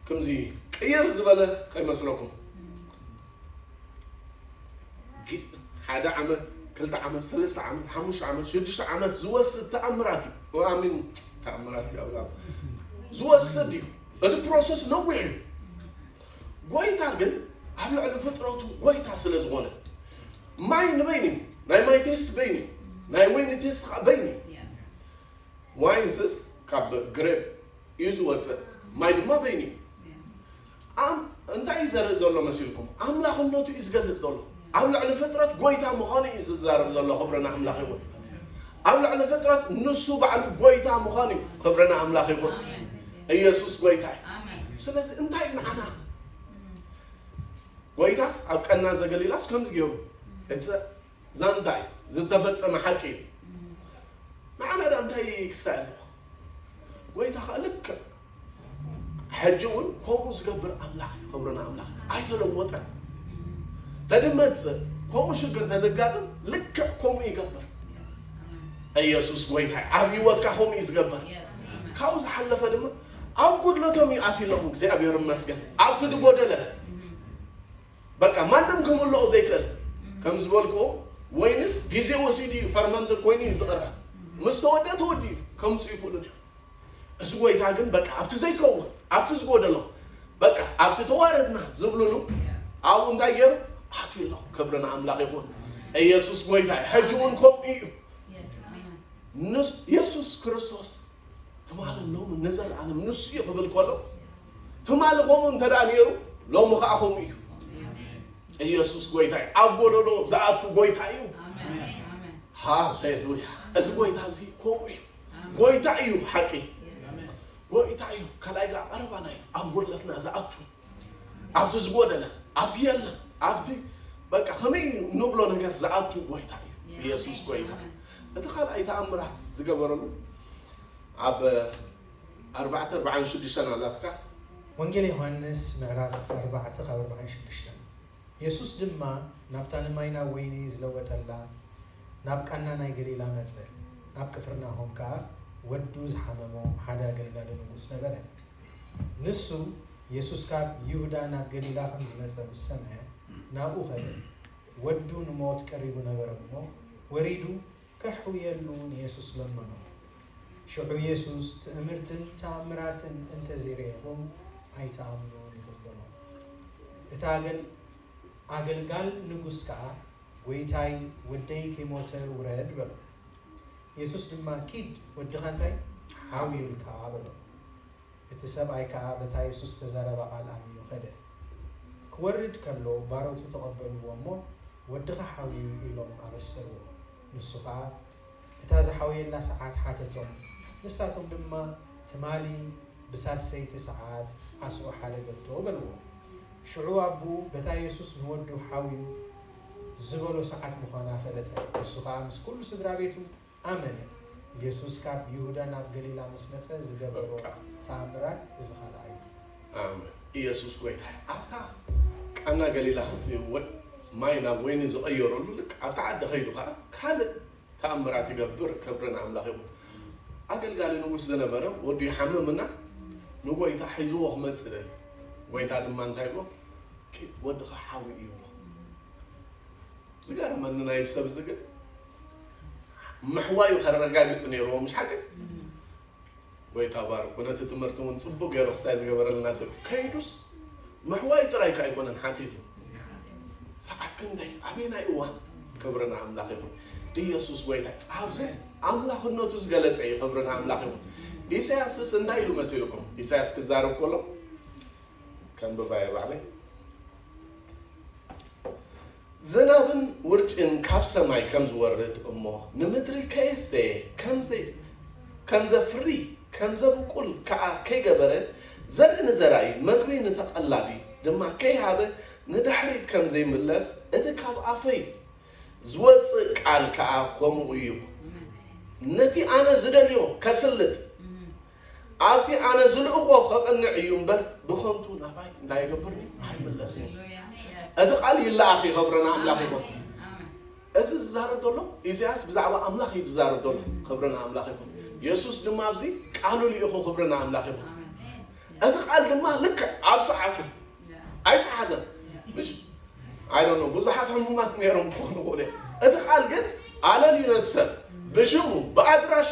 Speaker 1: ክምዚ ቅይር ዝበለ ከይመስለኩም ሓደ ዓመት ክልተ ዓመት ሰለስተ ዓመት ሓሙሽተ ዓመት ሽዱሽተ ዓመት ዝወስድ ተኣምራት እዩ ኣሚን ተኣምራት እዩ ኣብላ ዝወስድ እዩ እቲ ፕሮሰስ ነዊሕ እዩ ጎይታ ግን ኣብ ልዕሊ ፍጥረቱ ጎይታ ስለ ዝኾነ ማይ ንበይን እዩ ናይ ማይ ቴስት በይን እዩ ናይ ወይኒ ቴስት ከዓ በይን እዩ ዋይንስስ ካብ ግሬፕ እዩ ዝወጽእ፣ ማይ ድማ በይኑ እዩ። ኣም እንታይ እዩ ዘርኢ ዘሎ መሲልኩም? ኣምላኽነቱ እዩ ዝገልጽ ዘሎ። ኣብ ልዕሊ ፍጥረት ጎይታ ምዃኑ እዩ ዝዛረብ ዘሎ። ክብሪ ንኣምላኽ ይኹን። ኣብ ልዕሊ ፍጥረት ንሱ ባዕሉ ጎይታ ምዃኑ እዩ። ክብሪ ንኣምላኽ ይኹን። ኢየሱስ ጎይታ እዩ። ስለዚ እንታይ ንዓና ጎይታስ ኣብ ቀና ዘገሊላስ ከምዚ ገይሩ እቲ ዛንታ እዩ ዝተፈጸመ ሓቂ እዩ ንዓና ድኣ እንታይ ክስታይ ኣለዎ ጎይታ ከኣ ልክዕ ሕጂ እውን ከምኡ ዝገብር ኣምላኽ እዩ ክብርና ኣምላኽ ኣይተለወጠን ተድመጽእ ከምኡ ሽግር ተተጋጥም ልክዕ ከምኡ ይገብር ኢየሱስ ጎይታ ኣብ ህይወትካ ከምኡ እዩ ዝገብር ካብኡ ዝሓለፈ ድማ ኣብ ጉድለቶም ይኣትሎም እግዚኣብሔር ይመስገን ኣብቲ ዝጎደለ በቃ ማንም ክምልኦ ዘይክእል ከም ዝበልክዎ ወይንስ ግዜ ወሲዱ እዩ ፈርመንትድ ኮይኑ እዩ ዝቅረ ምስ ተወድኣ ተወዲኡ ከምጽኡ ይክእሉን እዮም እዚ ጎይታ ግን በቃ ኣብቲ ዘይከውን ኣብቲ ዝጎደሎ በቃ ኣብቲ ተዋረድና ዝብልሉ ኣብኡ እንታይ ገይሩ ኣትዩ ኣሎ ክብሪ ንኣምላኽ ይኹን ኢየሱስ ጎይታ እዩ ሕጂ እውን ከምኡ እዩ ንስ ኢየሱስ ክርስቶስ ትማሊ ሎሚ ንዘለኣለም ንሱ እዩ ክብል ከሎ ትማሊ ከምኡ እንተ ነይሩ ሎሚ ከዓ ከምኡ እዩ ኢየሱስ ጎይታ እዩ ኣብ ጎደሎ ዝኣቱ ጎይታ እዩ ሃሌሉያ እዚ ጎይታ እዚ ከምኡ እዩ ጎይታ እዩ ሓቂ ጎይታ እዩ ካልኣይ ጋር ቀረባና እዩ ኣብ ጎድለትና ዝኣቱ ኣብቲ ዝጎደለ ኣብቲ የለን ኣብቲ በቃ ከመይ ንብሎ ነገር ዝኣቱ ጎይታ እዩ ኢየሱስ ጎይታ እዩ እቲ ካልኣይ ተኣምራት ዝገበረሉ ኣብ ኣርባዕተ ኣርባዓን ሽዱሽተን ኣላትካ ወንጌል
Speaker 3: ዮሃንስ ምዕራፍ ኣርባዕተ ካብ ኣርባዓን ሽዱሽተን የሱስ ድማ ናብታ ንማይ ናብ ወይኒ ዝለወጠላ ናብ ቃና ናይ ገሊላ መጸ። ኣብ ቅፍርናሆም ከኣ ወዱ ዝሓመሞ ሓደ ኣገልጋሊ ንጉስ ነበረ። ንሱ፣ የሱስ ካብ ይሁዳ ናብ ገሊላ ኸም ዝመጸ ምስ ሰምዐ፣ ናብኡ ኸደ። ወዱ ንሞት ቀሪቡ ነበረ እሞ፣ ወሪዱ ኬሕውየሉ ንየሱስ ለመኖ። ሽዑ የሱስ፣ ትእምርትን ተኣምራትን እንተ ዘይርኤኹም፣ ኣይትኣምኑን ኢኹም በሎ። እቲ ኣገልጋል ንጉስ ከኣ፣ ጐይታይ፣ ወደይ ከይሞተ ውረድ በሎ። የሱስ ድማ ኪድ ወድኻ እንታይ ሓውዩልካ በሎ። እቲ ሰብኣይ ከኣ በታ የሱስ ዝተዛረባ ቃል ኣሚኑ ከደ። ክወርድ ከሎ ባሮቱ ተቐበልዎ እሞ ወድኻ ሓውዩ ኢሎም ኣበሰርዎ። ንሱ ከኣ እታ ዝሓወየላ ሰዓት ሓተቶም ንሳቶም ድማ ትማሊ ብሳልሰይቲ ሰዓት ዓስኡ ሓደገቶ በልዎ። ሽዑ ኣቡኡ በታ የሱስ ንወዱ ሓውዩ ዝበሎ ሰዓት ምዃና ፈለጠ። ንሱ ኸኣ ምስ ኵሉ ስድራ ቤቱ ኣመነ። የሱስ ካብ ይሁዳ ናብ ገሊላ ምስ መጸ ዝገበሮ ተኣምራት እዚ ኻልኣይ እዩ። ኣመን።
Speaker 1: የሱስ ጐይታ እዩ። ኣብታ ቃና ገሊላ ኽትወ ማይ ናብ ወይኒ ዝቐየረሉ ልክ ኣብታ ዓዲ ኸይዱ ኸኣ ካልእ ተኣምራት ይገብር ክብሪ ንኣምላኽ ይኹን። ኣገልጋሊ ንጉስ ዝነበረ ወዱ ይሓምም እና ንጎይታ ሒዝዎ ክመጽእ ደልዩ ጎይታ ድማ እንታይ ይብሎ ኪድ ወድኻ ሓዊ እዩ ብሎ ዝገርመኒ ናይ ሰብ ዝግን ምሕዋዩ ከረጋግጽ ነይርዎ ምሽ ሓቂ ጎይታ ባርኩ ነቲ ትምህርቲ እውን ፅቡቅ ገይሩ ክስታይ ዝገበረልና ሰብ ከይዱስ ምሕዋይ ጥራይ ከ ኣይኮነን ሓቲቱ ሰዓት ክንደይ ኣበየናይ እዋን ክብሪ ንኣምላኽ ይኹን ኢየሱስ ጎይታ ኣብዚ ኣምላኽነቱ ዝገለጸ እዩ ክብሪ ንኣምላኽ ይኹን ኢሳያስስ እንታይ ኢሉ መሲልኩም ኢሳያስ ክዛረብ ከሎ ከምብባየ ባዕለይ ዝናብን ውርጭን ካብ ሰማይ ከም ዝወርድ እሞ ንምድሪ ከየስተየ ከም ዘፍሪ ከም ዘብቁል ከኣ ከይገበረ ዘርኢ ንዘራኢ መግቢ ንተቐላቢ ድማ ከይሃበ ንድሕሪት ከም ዘይምለስ እቲ ካብ ኣፈይ ዝወጽእ ቃል ከኣ ከምኡ እዩ ነቲ ኣነ ዝደልዮ ከስልጥ ኣብቲ ኣነ ዝልእኾ ከቕንዕ እዩ እምበር ብኸንቱ ናባይ እንታይ ይገብር ኣይምለስ እዩ እቲ ቃል ይለኣኽ ይኸብረና ኣምላኽ ይኹን እዚ ዝዛረብ ዘሎ ኢሳያስ ብዛዕባ ኣምላኽ እዩ ዝዛረብ ዘሎ ክብረና ኣምላኽ ይኹን የሱስ ድማ ኣብዚ ቃሉ ልኢኹ ክብረና ኣምላኽ ይኹን እቲ ቃል ድማ ልክዕ ኣብ ሰዓቱ ኣይሰሓተን ምሽ ኣይዶኖ ብዙሓት ሕሙማት ነይሮም ክኾኑ ክእሉ እቲ ቃል ግን ኣለልዩ ነቲ ሰብ ብሽሙ ብኣድራሹ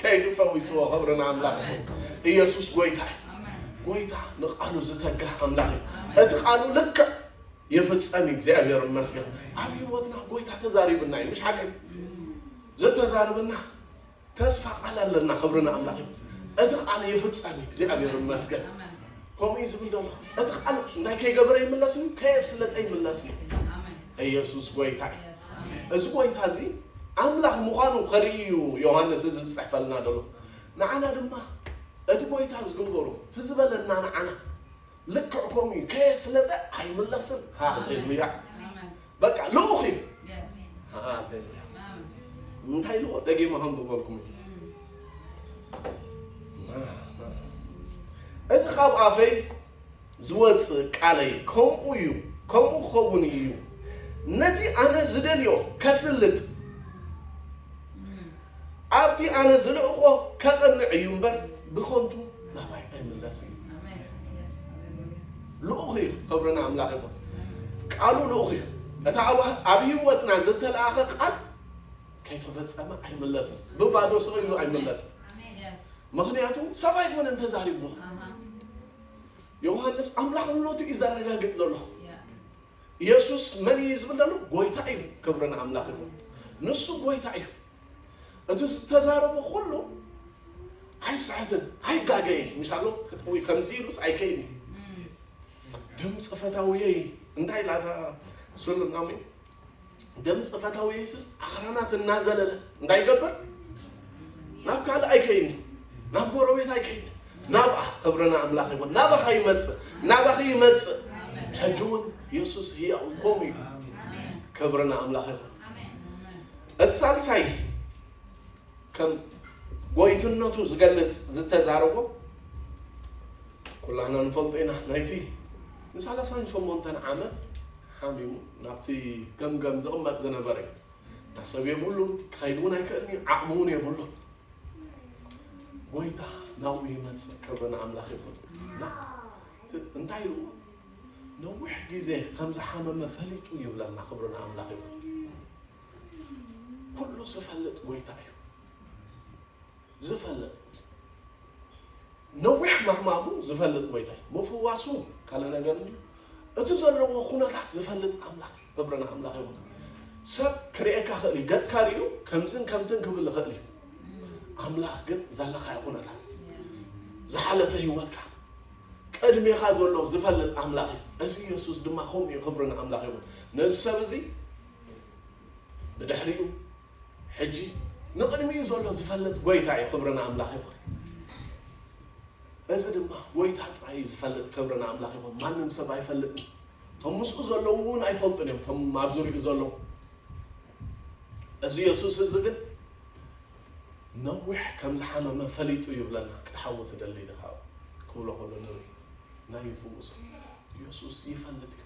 Speaker 1: ከይዱ ፈዊስዎ ክብሪ ንኣምላኽ ይኹን ኢየሱስ ጎይታ እዩ። ጎይታ ንቃሉ ዝተጋህ ኣምላኽ እዩ። እቲ ቃሉ ልክዕ ይፍጸም እዩ። እግዚኣብሔር ይመስገን ኣብ ህይወትና ጎይታ ተዛሪብና እዩ። ምሽ ሓቀይ ዘተዛርብና ተስፋ ቃል ኣለና። ክብሪ ንኣምላኽ ይኹን። እቲ ቃል ይፍጸም እዩ። እግዚኣብሔር ይመስገን ከምኡ እዩ ዝብል ዘሎ እቲ ቃል እንታይ ከይገበረ ይምለስ እዩ ከየስለጠ ይምለስ እዩ። ኢየሱስ ጎይታ እዩ። እዚ ጎይታ እዚ ኣምላኽ ምዃኑ ከርኢ እዩ ዮሃንስ እዚ ዝጽሕፈልና ዘሎ። ንዓና ድማ እቲ ጎይታ ዝግበሮ እቲ ዝበለና ንዓና ልክዕ ከምኡ እዩ ከየስለጠ ኣይምለስን። ሃሌሉያ በቃ ልኡኽ እዩ። ሃሌሉያ እንታይ ልዎ ደጊመ ከንብበልኩም እቲ ካብ ኣፈይ ዝወጽእ ቃለይ ከምኡ እዩ፣ ከምኡ ክኸውን እዩ፣ ነቲ ኣነ ዝደልዮ ከስልጥ፣ ኣብቲ ኣነ ዝልእኮ ከቕንዕ እዩ እምበር ብኸንቱ ናባይ ኣይምለስን እዩ። ልኡኽ እዩ፣ ክብሪ ንኣምላኽ ይኹን። ቃሉ ልኡኽ እዩ። እታ ኣብ ህይወትና ዝተላእኸ ቃል ከይተፈጸመ ኣይምለስን፣ ብባዶ ስቕ ኢሉ ኣይምለስን። ምክንያቱ ሰብ ኣይኮነን ተዛሪብዎ ዮሃንስ ኣምላኽነቱ እዩ ዘረጋግጽ ዘሎ። ኢየሱስ መን እዩ ዝብል ዘሎ? ጎይታ እዩ። ክብሪ ንኣምላኽ ይኹን። ንሱ ጎይታ እዩ። እቲ ዝተዛረቦ ኩሉ ኣይስሕትን ኣይጋገይን ምሻሎ ክጥዊ ከምዚ ኢሉስ ኣይከይን እዩ ድምፂ ፈታውየይ እንታይ ላታ ስሉናሚ ደም ጽፈታዊ የሱስ ኣኽራናት እናዘለለ እንታይ ይገብር? ናብ ካልእ ኣይከይድን፣ ናብ ጎረቤት ኣይከይድን፣ ናብኣ ክብርና ኣምላኽ ይኹን ናባኻ ይመጽእ፣ ናባኺ ይመጽእ። ሕጂ እውን የሱስ ህያው ከምኡ እዩ። ክብርና ኣምላኽ ይኹን። እቲ ሳልሳይ ከም ጎይትነቱ ዝገልጽ ዝተዛረቦ ኩላህና ንፈልጦ ኢና ናይቲ ንሳላሳን ሸሞንተን ዓመት ሓሚሙ ናብቲ ገምገም ዝቕመጥ ዝነበረ እዩ። እታ ሰብ የብሉን፣ ክኸይድ እውን ኣይክእልን እዩ፣ ዓቕሚ እውን የብሉን። ጐይታ ናብኡ ይመጽእ፣ ክብሪ ንኣምላኽ ይኹን። እና እቲ እንታይ ኢሉ ነዊሕ ግዜ ከም ዝሓመመ ፈሊጡ ይብለና፣ ክብሪ ንኣምላኽ ይኹን። ኩሉ ዝፈልጥ ጐይታ እዩ። ዝፈልጥ ነዊሕ ምሕማሙ ዝፈልጥ ጎይታይ ምፍዋሱ ካልእ ነገር እንድዩ እቲ ዘለዎ ኩነታት ዝፈልጥ ኣምላኽ ክብሪ ንኣምላኽ ይኹን ሰብ ክርእየካ ክእል እዩ ገጽካ ርእዩ ከምዝን ከምትን ክብል ይኽእል እዩ ኣምላኽ ግን ዘለኻዮ ኩነታት ዝሓለፈ ህይወትካ ቅድሜኻ ዘሎ ዝፈልጥ ኣምላኽ እዩ እዚ ኢየሱስ ድማ ከምኡ እዩ ክብሪ ንኣምላኽ ይኹን ነዚ ሰብ እዚ ብድሕሪኡ ሕጂ ንቕድሚኡ ዘሎ ዝፈልጥ ጎይታ እዩ ክብሪ ንኣምላኽ ይኹን። እዚ ድማ ጎይታ ጥራይ እዩ ዝፈልጥ ክብሪ ንኣምላኽ ይኹን። ማንም ሰብ ኣይፈልጥን። እቶም ምስኡ ዘለዉ እውን ኣይፈልጡን እዮም እቶም ኣብ ዙሪኡ ዘለዉ። እዚ የሱስ እዚ ግን ነዊሕ ከም ዝሓመመ ፈሊጡ ይብለና ክትሓዊ ትደሊ ድኻ ክብሎ ከሎ ነዊሕ ናይ ይፍውሶ ኢየሱስ ይፈልጥ እዩ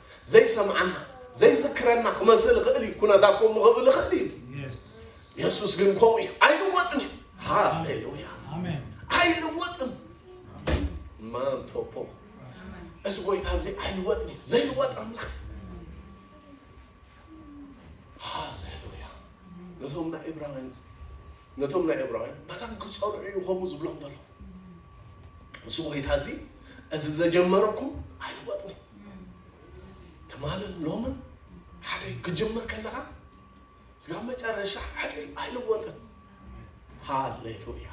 Speaker 1: ዘይሰምዓና፣ ዘይዝክረና ክመስል ይኽእል እዩ፣ ኩነታት ከምኡ ክብል ይኽእል እዩ። የሱስ ግን ከምኡ እዩ፣ ኣይልወጥን እዩ። ሃሌሉያ! ኣይልወጥን ማንቶፖ እዚ ጎይታ እዚ ኣይልወጥን እዩ፣ ዘይልወጥ ኣምላኽ ሃሌሉያ! ነቶም ናይ እብራውያን ነቶም ናይ እብራውያን በቶም ክፀርዑ እዩ ከምኡ ዝብሎም ዘሎ እዚ ጎይታ እዚ እዚ ዘጀመረኩም ኣይልወጥን እዩ ትማልን ሎምን ሓደ እዩ ክጅምር ከለኻ ስጋብ መጨረሻ ሓደ እዩ ኣይልወጥን ሃሌሉያ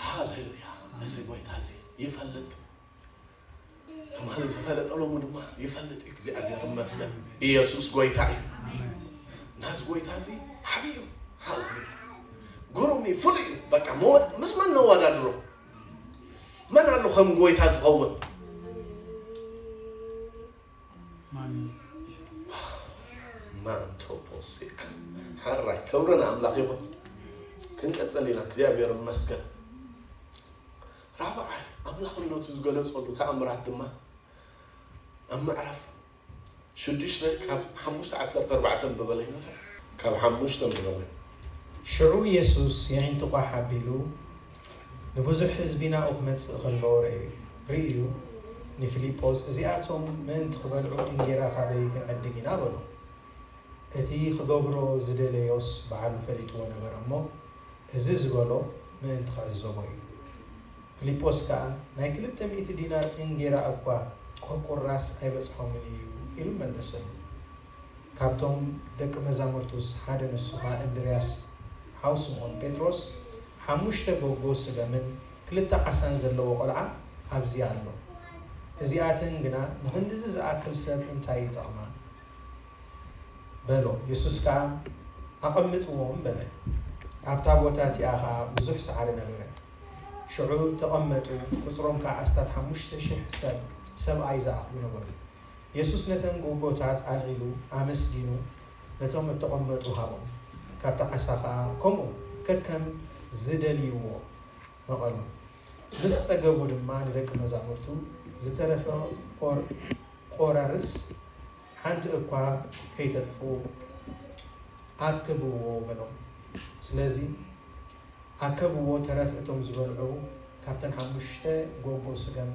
Speaker 1: ሃሌሉያ እዚ ጎይታ እዚ ይፈልጥ ትማሊ ዝፈለጠ ሎሚ ድማ ይፈልጥ እዩ እግዚኣብሔር ይመስገን ኢየሱስ ጎይታ እዩ እና እዚ ጎይታ እዚ ዓብዩ ሃሌሉያ ግሩም እዩ ፍሉይ እዩ በቃ መወድ ምስ መን ነወዳድሮ መን ኣሎ ከም ጎይታ ዝኸውን ማንቶፖሴክ ሓራይ ክብርን ኣምላኽ ይኹን ክንቀፅል ኢና እግዚኣብሔር ይመስገን ራብዓይ ኣምላኽነቱ ዝገለፀሉ ተኣምራት ድማ ኣብ ምዕራፍ ሽዱሽተ ካብ ሓሙሽተ ዓሰርተ ኣርባዕተ ኣንብበለይ'ሞ ካብ ሓሙሽተ ኣንብበለይ። ሽዑ
Speaker 3: የሱስ የዒንቱ ቋሕ ኣቢሉ ንብዙሕ ህዝቢ ናብኡ ክመጽእ ከሎ ረእዩ። ርእዩ ንፊልጶስ እዚኣቶም ምእንቲ ክበልዑ እንጌራ ካበይ ክንዕድግ ኢና በሎ። እቲ ክገብሮ ዝደለዮስ በዓሉ ፈሊጥዎ ነበረ እሞ እዚ ዝበሎ ምእንቲ ክዕዘቦ እዩ። ፍሊጶስ ከኣ፣ ናይ ክልተ ሚእቲ ዲናር እንጌራ እኳ ቈቁራስ ኣይበጽሖምን እዩ ኢሉ መለሰሉ። ካብቶም ደቂ መዛሙርቱስ ሓደ ንሱ ኸኣ እንድርያስ ሓው ስምዖን ጴጥሮስ፣ ሓሙሽተ ጎጎ ስገምን ክልተ ዓሳን ዘለዎ ቈልዓ ኣብዚ ኣሎ። እዚኣተን ግና ንኽንድዚ ዝኣክል ሰብ እንታይ ይጠቕማ? በሎ። የሱስ ከኣ፣ ኣቐምጥዎም በለ። ኣብታ ቦታ እቲኣ ኸኣ ብዙሕ ሳዕሪ ነበረ። ሽዑ ተቐመጡ፣ ቍጽሮም ከኣ ኣስታት ሓሙሽተ ሽሕ ሰብ፣ ሰብኣይ ዝኣኽሉ ነበሩ። የሱስ ነተን ጉጎታት ኣልዒሉ ኣመስጊኑ ነቶም እተቐመጡ ሃቦም፣ ካብቲ ዓሳ ኸኣ ከምኡ ከከም ዝደልይዎ ነቐሎም። ምስ ጸገቡ ድማ ንደቂ መዛሙርቱ ዝተረፈ ቈራርስ ሓንቲ እኳ ከይተጥፍኡ ኣክብዎ በሎም። ስለዚ፣ ኣከብዎ ተረፍ እቶም ዝበልዑ ካብተን ሓሙሽተ ጎጎ ስገም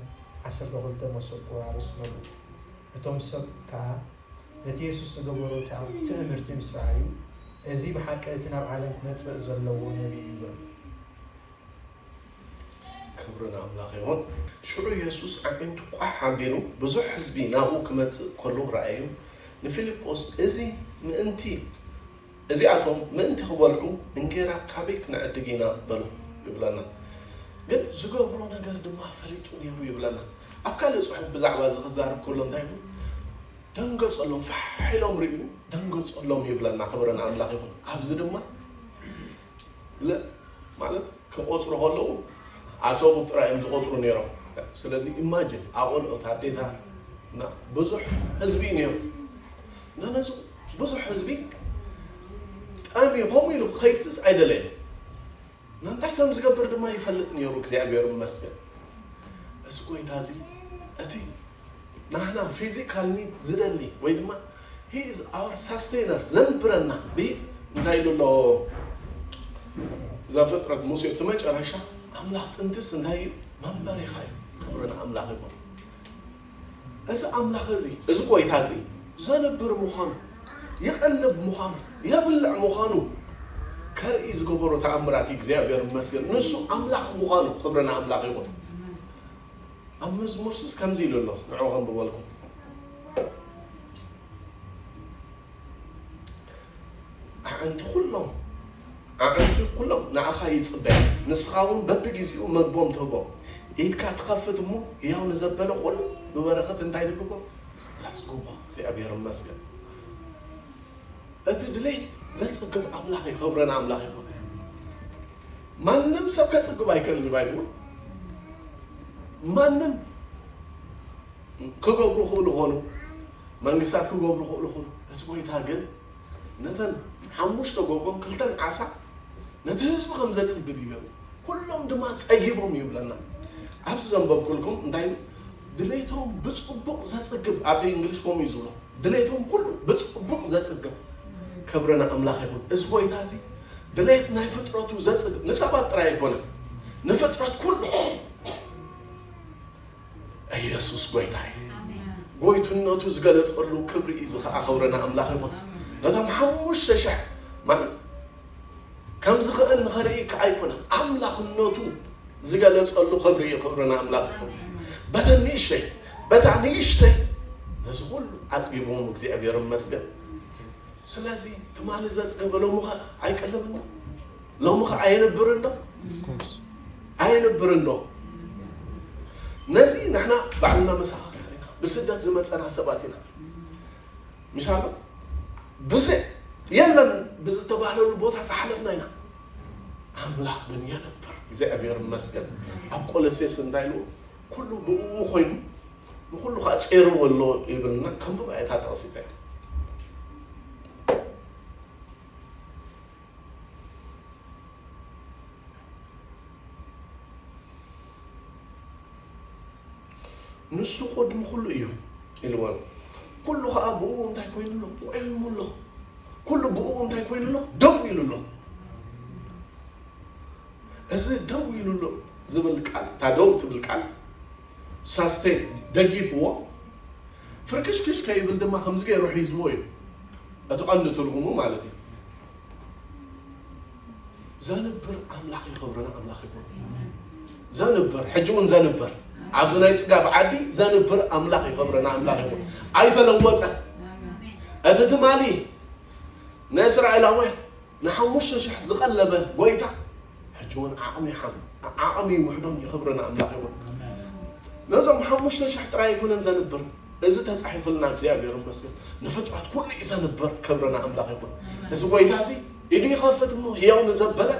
Speaker 3: ዓሰርተ ክልተ መሶብ ቁራርስ መሉ እቶም ሰብ ከኣ ነቲ የሱስ ዝገበሮ ትእምርቲ ምስ ረኣዩ እዚ ብሓቂ እቲ ናብ ዓለም ክመጽእ ዘለዎ ነቢ እዩ በሉ።
Speaker 1: ክብሪ ንኣምላኽ ይኹን። ሽዑ የሱስ ኣዒንቱ ቋሕ ኣቢሉ ብዙሕ ህዝቢ ናብኡ ክመጽእ ከሎ ረኣዩ ንፊልጶስ እዚ ምእንቲ። እዚኣቶም ምእንቲ ኺበልዑ እንጌራ ካበይ ክንዕድግ ኢና? በሎም ይብለና። ግን ዚገብሮ ነገር ድማ ፈሊጡ ነይሩ ይብለና። ኣብ ካልእ ጽሑፍ ብዛዕባ እዚ ኺዛረብ ከሎ እንታይ ይብል? ደንገጸሎም፣ ፋሕ ኢሎም ርእዩ ደንገጸሎም ይብለና። ኽብሪ ንኣምላኽ ይኹን። ኣብዚ ድማ። ለ ማለት ክቆጽሩ ከለዉ ኣሰቡት ጥራይ እዮም ዝቆጽሩ ኔሮም ስለዚ ኢማጅን ኣቆልዑት ኣዴታት እና ብዙሕ ህዝቢ እዩ ኔሩ እና ነዚ ብዙሕ ህዝቢ ጠምዩ ከምኡ ኢሉ ክኸይድስስ ኣይደለየን እና እንታይ ከም ዝገብር ድማ ይፈልጥ ኔሩ እግዚኣብሔር ይመስገን እዚ ጎይታ እዚ እቲ ናህና ፊዚካል ኒድ ዝደሊ ወይ ድማ ሂ ኢዝ ኣወር ሳስቴነር ዘንብረና ድዩ እንታይ ኢሉ ኣሎ ዘፍጥረት ሙሴ እቲ መጨረሻ ኣምላኽ ጥንትስ እንታይ እዩ መንበሪኻ እዩ ክብሪ ንኣምላኽ ይኹን እዚ ኣምላኽ እዚ እዚ ጎይታ እዚ ዘንብር ምዃኑ ይቐልብ ምዃኑ የብልዕ ምዃኑ ከርኢ ዝገበሮ ተኣምራት እግዚኣብሔር ይመስገን ንሱ ኣምላኽ ምዃኑ ክብሪ ንኣምላኽ ይኹን ኣብ መዝሙርስ ከምዚ ኢሉ ኣሎ ንዑ ከንብበልኩም ኣዕንቲ ኩሎም ኣዕንቲ ኩሎም ንኣኻ ይጽበያ ንስኻ እውን በብግዜኡ መግቦም ትህቦ ኢድካ ትኸፍት እሞ ያው ንዘበለ ኩሉ ብበረኸት እንታይ ንግቦ ተጽግቦ እግዚኣብሔር ይመስገን እቲ ድሌት ዘጽግብ ኣምላኽ ይኸብረን ኣምላኽ ይኸብረ ማንም ሰብ ከጽግብ ኣይክእልን እዩ ባይትወ ማንም ክገብሩ ክእሉ ኾኑ መንግስታት ክገብሩ ክእሉ ኾኑ እዚ ጎይታ ግን ነተን ሓሙሽተ ጎጎን ክልተን ዓሳ ነቲ ህዝቢ ከም ዘጽግብ ይገሩ ኩሎም ድማ ጸጊቦም ይብለና ኣብዚ ዘንበብኩልኩም እንታይ ድሌቶም ብጽቡቕ ዘጽግብ፣ ኣብቲ እንግሊሽ ከምኡ እዩ ዝብሎ፣ ድሌቶም ኩሉ ብጽቡቕ ዘጽግብ፣ ክብሪ ንኣምላኽ ይኹን። እዚ ጎይታ እዚ ድሌት ናይ ፍጥረቱ ዘጽግብ፣ ንሰባት ጥራይ ኣይኮነን፣ ንፍጥረት ኩሉ። ኢየሱስ ጎይታ እዩ። ጎይትነቱ ዝገለጸሉ ክብሪ እዩ፣ እዚ ከኣ ክብሪ ንኣምላኽ ይኹን። ነቶም ሓሙሽተ ሽሕ ማለት ከም ዝኽእል ንኸርኢ እካ ኣይኮነን ኣምላኽነቱ ዝገለጸሉ ክብሪ እዩ ክብሪ ንኣምላኽ ይኹን በተን ንእሽተይ በታ ንእሽተይ ነዚ ኩሉ ዓጺግዎም እግዚኣብሔር ይመስገን ስለዚ ትማሊ ዘጽገበ ሎምኸ ኣይቀልብን ዶ ሎምኸ ኣየንብርን ዶ ኣየንብርን ዶ ነዚ ንሕና ባዕልና መሰኻኽር ኢና ብስደት ዝመጸና ሰባት ኢና ምስ ኣሎ ብዘ የለን ብዝተባህለሉ ቦታ ዝሓለፍና ኢና ኣምላኽ ግን የነብር እግዚኣብሔር ይመስገን ኣብ ቆሎሴስ እንታይ ኢሉ ኩሉ ብእኡ ኮይኑ ንኩሉ ከዓ ጼርዎ ኣሎ ይብልና ከምብባ እታ ጠቕሲታ እዩ ንሱ ቁድሚ ኩሉ እዩ ኢልዎን ኩሉ ከኣ ብእኡ እንታይ ኮይኑ ኣሎ ቆይሙ ኣሎ ኩሉ ብእኡ እንታይ ኮይኑ ኣሎ ደው ኢሉ ኣሎ እዚ ደው ኢሉ ኣሎ ዝብል ቃል እታ ደው ትብል ቃል ሳስቴ ደጊፍዎ ፍርክሽክሽ ከይብል ድማ ከምዚ ገይሩ ሒዝዎ እዩ እቲ ቀንዲ ትርጉሙ ማለት እዩ ዘንብር ኣምላኽ ይኸብረና ኣምላኽ ይኹን ዘንብር ሕጂ እውን ዘንብር ኣብዚ ናይ ፅጋብ ዓዲ ዘንብር ኣምላኽ ይኸብረና ኣምላኽ ይኹን ኣይተለወጠ እቲ ትማሊ ንእስራኤላውያን ንሓሙሽተ ሽሕ ዝቐለበ ጎይታ ሕጂ እውን ዓቕሚ ሓም ዓቕሚ ውሕዶን ይኸብረና ኣምላኽ ይኹን ነዞም ሓሙሽተ ሽሕ ጥራይ ኣይኮነን ዘንብር እዚ ተፃሒፍልና እግዚኣብሔር ይመስገን ንፍጥረት ኩሉ እዩ ዘንብር ክብረና ኣምላኽ ይኹን እዚ ጎይታ እዚ ኢዱ ይኸፍት እሞ ህያው ንዘበለ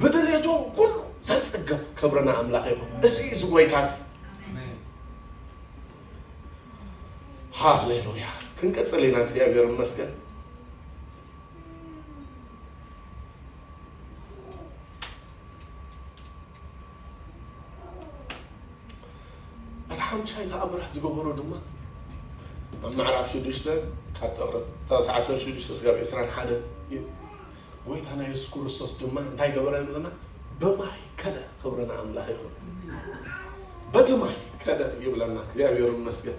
Speaker 1: ብድሌቱ ኩሉ ዘጽግብ ክብርና ኣምላኽ ይኹን። እዚ እዚ ጎይታ እዚ ሃሌሉያ ክንቅጽል ኢና። እግዚኣብሔር ይመስገን። እቲ ሓምሻይ ተኣምራት ዝገበሮ ድማ ኣብ ምዕራፍ ሽዱሽተ ካብ ጥቕርታስ ዓሰርተ ሽዱሽተ ስጋብ ዕስራን ሓደን እዩ። ጎይታና የሱስ ክርስቶስ ድማ እንታይ ገበረ ይብለና? ብማይ ከደ። ክብሪ ንኣምላኽ ይኹን። በቲ ማይ ከደ ይብለና። እግዚኣብሔር ይመስገን።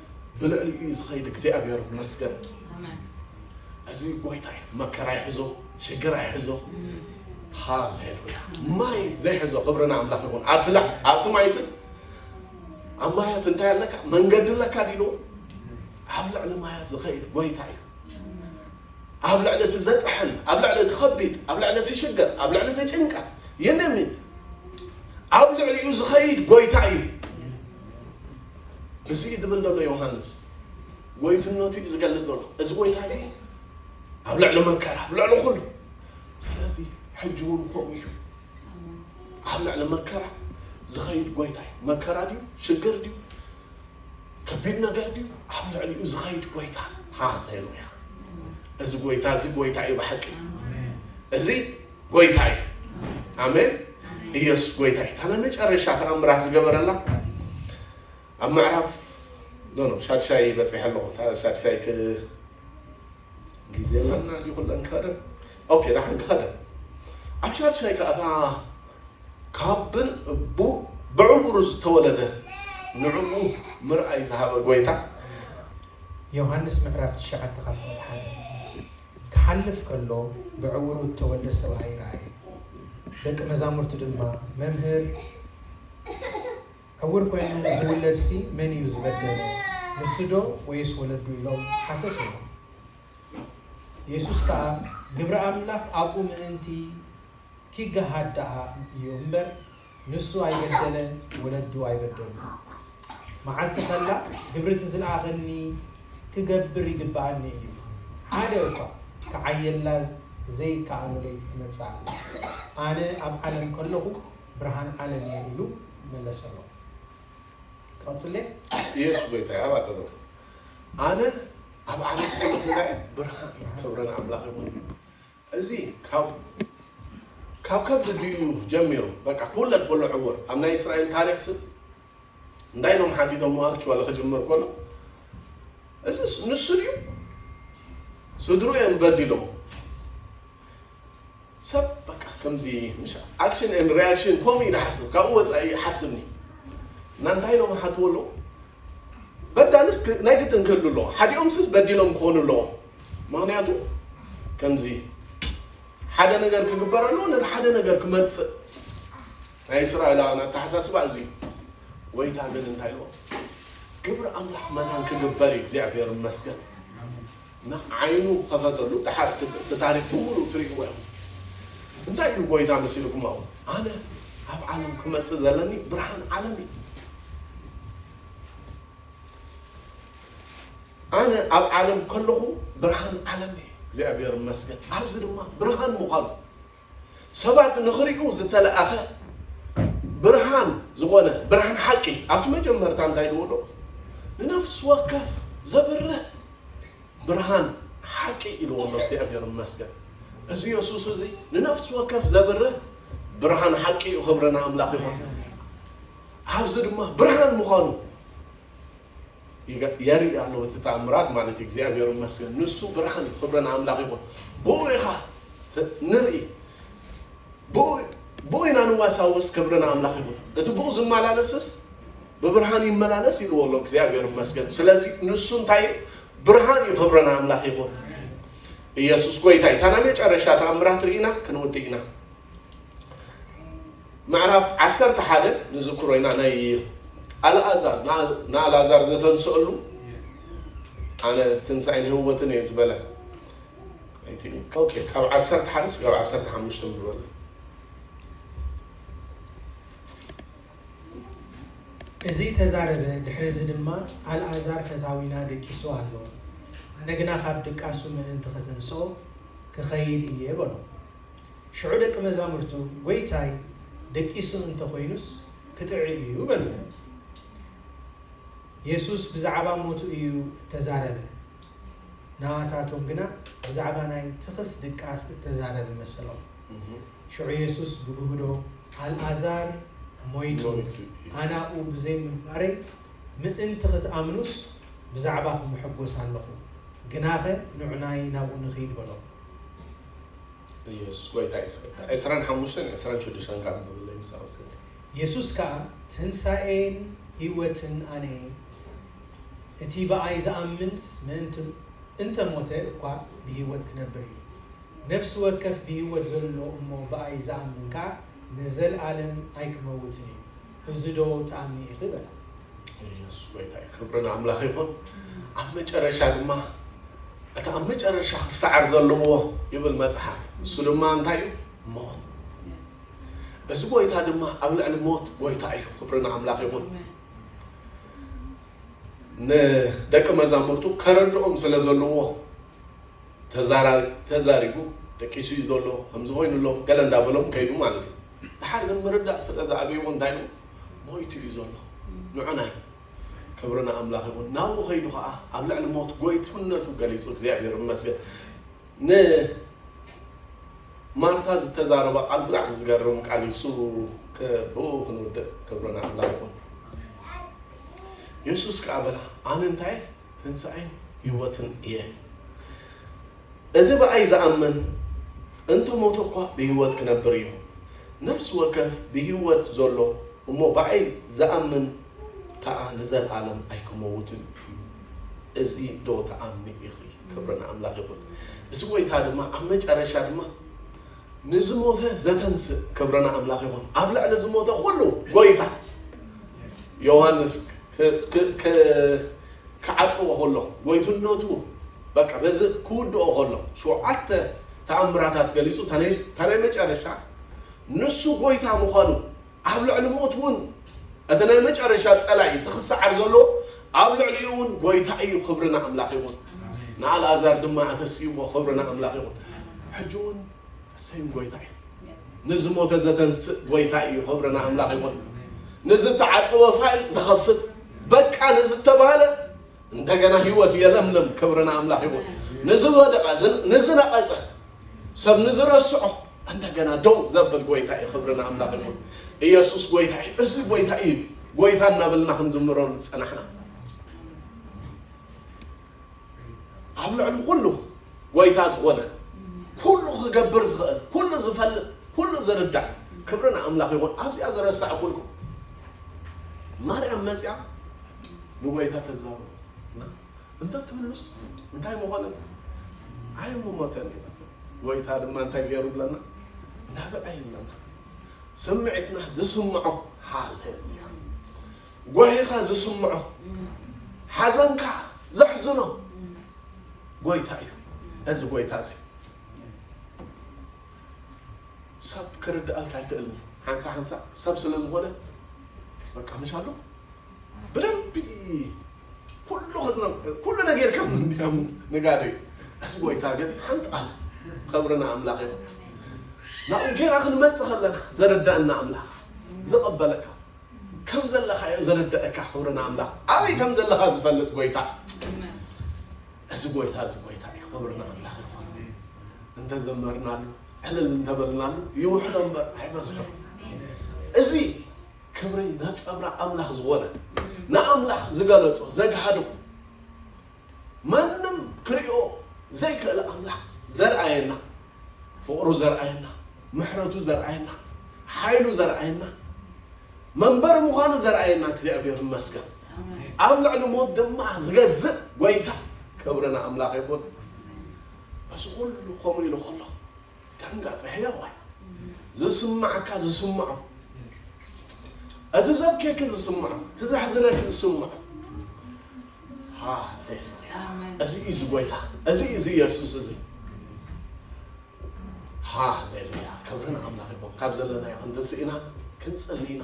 Speaker 1: ብልዕሊኡ እዩ ዝኸይድ እግዚኣብሔር ይመስገን እዚ ጎይታ እዩ መከራ ይሕዞ ሽግር ኣይሕዞ ሃሌሉያ ማይ ዘይሕዞ ክብሪ ንኣምላኽ ይኹን ኣብቲ ላ ኣብቲ ማይስስ ኣብ ማያት እንታይ ኣለካ መንገዲ ኣለካ ዲሉ ኣብ ልዕሊ ማያት ዝኸይድ ጎይታ እዩ ኣብ ልዕሊ እቲ ዘጥሕል ኣብ ልዕሊ እቲ ከቢድ ኣብ ልዕሊ እቲ ሽግር ኣብ ልዕሊ እቲ ጭንቀት የነሚት ኣብ ልዕሊኡ ዝኸይድ ጎይታ እዩ እዚ እዩ ዝብል ዘሎ ዮሃንስ። ጎይትነቱ እዩ ዝገልጽ ዘሎ እዚ ጎይታ እዚ ኣብ ልዕሊ መከራ ኣብ ልዕሊ ኩሉ ስለዚ ሕጂ እውን ከምኡ እዩ ኣብ ልዕሊ መከራ ዝኸይድ ጎይታ እዩ መከራ ድዩ ሽግር ድዩ ከቢድ ነገር ድዩ ኣብ ልዕሊኡ ዝኸይድ ጎይታ ሃሌሉያ እዚ ጎይታ እዚ ጎይታ እዩ ብሓቂ እዚ ጎይታ እዩ ኣሜን ኢየሱስ ጎይታ እዩ ታና መጨረሻ ተኣምራት ዝገበረላ ኣብ ምዕራፍ ኖ ኖ ሻድሻይ በፂሐ ኣለኹ ታ- ሻድሻይ ክ ግዜ ኣለና ድዩ ኩለን ክኸደን ኦኬ ዳሓን ክኸደን ኣብ ሻድሻይ ከዓ እታ ካብን እቡ ብዕውሩ ዝተወለደ ንዕኡ ምርኣይ ዝሃበ ጎይታ
Speaker 3: ዮሃንስ ምዕራፍ ትሽዓተ ካብ ፍቕዲ ሓደ ክሓልፍ ከሎ ብዕውሩ እተወልደ ሰብኣይ ረኣየ። ደቂ መዛሙርቱ ድማ፣ መምህር፣ ዕውር ኰይኑ ዚውለድሲ መን እዩ ዝበደለ፣ ንሱዶ ወይስ ወለዱ? ኢሎም ሓተትዎ። የሱስ ከኣ፣ ግብሪ ኣምላኽ ኣብኡ ምእንቲ ኪገሃድ ደኣ እዩ እምበር፣ ንሱ ኣይበደለ ወለዱ ኣይበደሉ። መዓልቲ ከላ ግብሪ እቲ ዝለኣኸኒ ክገብር ይግበኣኒ እዩ። ሓደ እኳ ክዓየላ ዘይከኣሎ ለይቲ ትመጽእ ኣላ። ኣነ ኣብ ዓለም ከለኹ ብርሃን ዓለም እየ ኢሉ መለሰሎም። ክቕጽል ድየ? ኢየሱስ
Speaker 1: ጎይታ'ዩ ኣብ ኣጠገቡ። ኣነ ኣብ ዓለም ከለኹ ናይ ብርሃን ክብሪ ንኣምላኽ ይኹን። እዚ ካብ ካብ ከብዲ ዲኡ ጀሚሩ በቃ ክውለድ ኮሎ ዕውር ኣብ ናይ እስራኤል ታሪኽ ስብ እንታይ ኢሎም ሓቲቶሞ ኣክችዋሊ ክጅምር ኮሎ እዚስ ንሱ ዲዩ ስድርኡ እዮም በዲሎሞ ሰብ በቃ ከምዚ ምሽ ኣክሽን ኤንድ ሪያክሽን ኮሙ ኢና ሓስብ ካብኡ ወጻኢ ሓስብኒ እና እንታይ ኢሎም ሓትዎ ኣለዉ በዳልስ ክ ናይ ግድን ክህሉ ኣለዎ ሓዲኦምስስ በዲሎም ክኾኑ ኣለዎም ምኽንያቱ ከምዚ ሓደ ነገር ክግበር ኣለዎ ነቲ ሓደ ነገር ክመጽእ ናይ እስራኤላውያን ኣተሓሳስባ እዚ እዩ ጎይታ ግን እንታይ ኢልዎ ግብሪ ኣምላኽ መታን ክግበር እዩ እግዚኣብሔር ይመስገን ንዓይኑ ክኸፈተሉ ደሓር እቲ ታሪኽ ብምሉኡ ትርእይዎ ኢኹም። እንታይ ኢሉ ጎይታ መሲልኩም ኣብኡ? ኣነ ኣብ ዓለም ክመጽእ ዘለኒ ብርሃን ዓለም እየ። ኣነ ኣብ ዓለም ከለኹ ብርሃን ዓለም እየ። እግዚኣብሔር ይመስገን ኣብዚ ድማ ብርሃን ምዃኑ። ሰባት ንኽሪኡ ዝተለኣኸ ብርሃን ዝኾነ ብርሃን ሓቂ ኣብቲ መጀመርታ እንታይ ኢልዎ ኣሎ? ንነፍሲ ወከፍ ዘብርህ ብርሃን ሓቂ ኢልዎ ኣሎ። እግዚኣብሔር ይመስገን። እዚ የሱስ እዚ ንነፍሲ ወከፍ ዘብርህ ብርሃን ሓቂ እዩ። ክብሪ ንኣምላኽ ይኹን። ኣብዚ ድማ ብርሃን ምዃኑ የርኢ ኣሎ እቲ ተኣምራት ማለት እግዚኣብሔር ይመስገን ንሱ ብርሃን እዩ ክብረ ንኣምላኽ ይኹን ብኡ ኢኻ ንርኢ ብኡ ኢና ንዋሳውስ ክብረ ንኣምላኽ ይኹን እቲ ብኡ ዝመላለስስ ብብርሃን ይመላለስ ይልዎ ኣሎ እግዚኣብሔር ይመስገን ስለዚ ንሱ እንታይ ብርሃን እዩ ክብረ ንኣምላኽ ይኹን ኢየሱስ ጎይታ እዩ ታና መጨረሻ ተኣምራት ርኢና ክንውድእ ኢና ምዕራፍ ዓሰርተ ሓደ ንዝክሮ ኢና ናይ ኣልኣዛር ንኣልኣዛር ዘተንስአሉ ኣነ ትንሳኤን ህወትን እየ ዝበለ ካብ ዓሰርተ ሓደ ስጋብ ዓሰርተ ሓሙሽተ ዝበለ
Speaker 3: እዚ ተዛረበ ድሕሪ እዚ ድማ ኣልኣዛር ፈታዊና ደቂሱ ኣሎ እንደገና ካብ ድቃሱ ምእንቲ ከተንስኦ ክኸይድ እየ በሎ ሽዑ ደቂ መዛሙርቱ፣ ጐይታይ፣ ደቂሱ እንተ ዀይኑስ፣ ክጥዒ እዩ በልዎ። የሱስ ብዛዕባ ሞቱ እዩ እተዛረበ፣ ንኣታቶም ግና ብዛዕባ ናይ ትኽስ ድቃስ እተዛረበ መሰሎም። ሽዑ የሱስ ብግህዶ፣ ኣልኣዛር ሞይቱ፣ ኣነ ኣብኡ ብዘይ ምንባረይ ምእንቲ ኽትኣምኑስ፣ ብዛዕባኹም እሕጐስ ኣለኹ፣ ግናኸ ንዑናይ ናብኡ ንኺድ በሎም። ኢየሱስ
Speaker 1: ጎይታ እዩ እስከ ዕስራን ሓሙሽተን ዕስራን ሽዱሽተን ከኣ ኣንብብለይ ምሳይ ወስከ። የሱስ ከኣ
Speaker 3: ትንሣኤን ሕይወትን ኣነ እየ፣ እቲ ብኣይ ዝኣምንስ ምእንቲ እንተ ሞተ እኳ ብሕይወት ኪነብር እዩ። ነፍሲ ወከፍ ብሕይወት ዘሎ እሞ ብኣይ ዝኣምን ከኣ ንዘለዓለም ኣይኪመውትን እዩ። እዚ ዶ ወውጽኣኒ ኢኺ በላ። ኢየሱስ
Speaker 1: ጎይታ እዩ ክብሪ ንኣምላኽ ይኹን ኣብ መጨረሻ ድማ እቲ ኣብ መጨረሻ ክሰዓር ዘለዎ ይብል መጽሓፍ እሱ ድማ እንታይ እዩ ሞት እዚ ጎይታ ድማ ኣብ ልዕሊ ሞት ጎይታ እዩ ክብሪ ንኣምላኽ ይኹን ንደቂ መዛሙርቱ ከረድኦም ስለ ዘለዎ ተዛሪቡ ደቂሱ እዩ ዘሎ ከምዚ ኮይኑ ኣሎ ገለ እንዳበሎም ከይዱ ማለት እዩ ድሓር ግን ምርዳእ ስለ ዝኣበይዎ እንታይ ኢሉ ሞይቱ እዩ ዘሎ ንዑ ናይ ክብሪ ንኣምላኽ ይኹን ናብኡ ከይዱ ከዓ ኣብ ልዕሊ ሞት ጎይትነቱ ገሊጹ እግዚኣብሔር ይመስገን ንማርታ ዝተዛረበ ቃል ብጣዕሚ ዝገርም ቃል እዩ እሱ ብኡ ክንውድእ ክብሪ ንኣምላኽ ይኹን የሱስ ከዓ በላ ኣነ እንታይ ትንሣኤን ህይወትን እየ እቲ ብኣይ ዝኣምን እንተ ሞተ እኳ ብህይወት ክነብር እዩ። ነፍሲ ወከፍ ብህይወት ዘሎ እሞ ብኣይ ዝኣምን ከኣ ንዘልኣለም ኣይክመውትን እዩ። እዚዶ ትኣምኒ ኢኺ? ክብሪ ንኣምላኽ ይኹን። እዚ ጐይታ ድማ ኣብ መጨረሻ ድማ ንዝሞተ ዘተንስእ ክብሪ ንኣምላኽ ይኹን። ኣብ ልዕሊ ዝሞተ ኩሉ ጐይታ ዮሃንስ ክዓጽዎ ከሎ ጐይትነቱ በቃ ነዚ ክውድኦ ከሎ ሸውዓተ ተኣምራታት ገሊጹ እታ ናይ እታ ናይ መጨረሻ ንሱ ጎይታ ምዃኑ ኣብ ልዕሊ ሞት ውን እቲ ናይ መጨረሻ ጸላኢ እቲ ክሰዓር ዘሎ ኣብ ልዕሊኡ ውን ጎይታ እዩ ክብሪ ንኣምላኽ ይኹን ንኣልኣዛር ድማ ኣተስእዎ ክብሪ ንኣምላኽ ይኹን ሕጂ ውን ሰይም ጎይታ እዩ ንዝሞተ ዘተንስእ ጎይታ እዩ ክብሪ ንኣምላኽ ይኹን ንዝተዓጸወ ፋይል ዝኸፍት በቃ ንዝተባህለ እንደገና ህይወት የለምልም። ክብሪ ንኣምላኽ ይኹን። ንዝወደቐ ንዝነቐጸ ሰብ ንዝረስዖ እንደገና ደው ዘብል ጎይታ እዩ። ክብሪ ንኣምላኽ ይኹን። ኢየሱስ ጎይታ እዩ። እዚ ጎይታ እዩ። ጎይታ እናበልና ክንዝምሮ ዝጸናሕና ኣብ ልዕሊ ኩሉ ጎይታ ዝኾነ ኩሉ ክገብር ዝኽእል ኩሉ ዝፈልጥ ኩሉ ዝርዳእ ክብሪ ንኣምላኽ ይኹን። ኣብዚኣ ዝረሳዕኩልኩም ማርያም መፅያ ንጎይታ ተዛረቡ እንተትብሉስ እንታይ ምኾነት ኣይምሞተን ይበትም ጎይታ ድማ እንታይ ገይሩ ብለና ናብዐ ይብለና ስምዒትና ዝስምዖ ሃሌሉያ ጓሂኻ ዝስምዖ ሓዘንካ ዘሕዝኖ ጎይታ እዩ እዚ ጎይታ እዚ ሰብ ክርድኣልካ ኣይክእልን ሓንሳ ሓንሳ ሰብ ስለ ዝኾነ በቃ ምሻሉ ብደንቢ ኩሉ ክድነ ኩሉ ነገር ከም እንዲያሙ ነጋደይ እስ ጎይታ ግን ሓንቲ ቃል ኸብርና ኣምላኽ ይኹን ናብኡ ጌና ክንመጽእ ከለና ዘረዳእና ኣምላኽ ዝቐበለካ ከም ዘለኻዮ ዘረዳእካ ክብርና ኣምላኽ ኣበይ ከም ዘለኻ ዝፈልጥ ጎይታ እዚ ጎይታ እዚ ጎይታ እዩ ክብርና ኣምላኽ ይኹን እንተዘመርናሉ ዕልል እንተበልናሉ ይውሕዶ እምበር ኣይበዝሖ እዚ ክብሪ ነጸብራቕ ኣምላኽ ዝኾነ ንኣምላኽ ዝገለጾ ዘግሃዶ ማንም ክሪኦ ዘይክእል ኣምላኽ ዘርኣየና ፍቕሩ ዘርኣየና ምሕረቱ ዘርኣየና ሓይሉ ዘርኣየና መንበሪ ምዃኑ ዘርኣየና እግዚኣብሔር ይመስገን ኣብ ልዕሊ ሞት ድማ ዝገዝእ ጎይታ ክብሪ ንኣምላኽ ይኹን እዚ ኩሉ ከምኡ ኢሉ ከሎ ደንጋጸ ሕያዋይ ዝስማዓካ ዝስምዖ እቲ ዘብኬኪ ዝስምዖ እቲ ዘሕዝነኪ ዝስምዖ ሃሌሉያ እዚ እዩ ዝጎይታ እዚ እዩ ዝየሱስ እዚ ሃሌሉያ ክብርን ኣምላኽ ይኹን ካብ ዘለናዮ ክንትስእ ኢና ክንጽሊ ኢና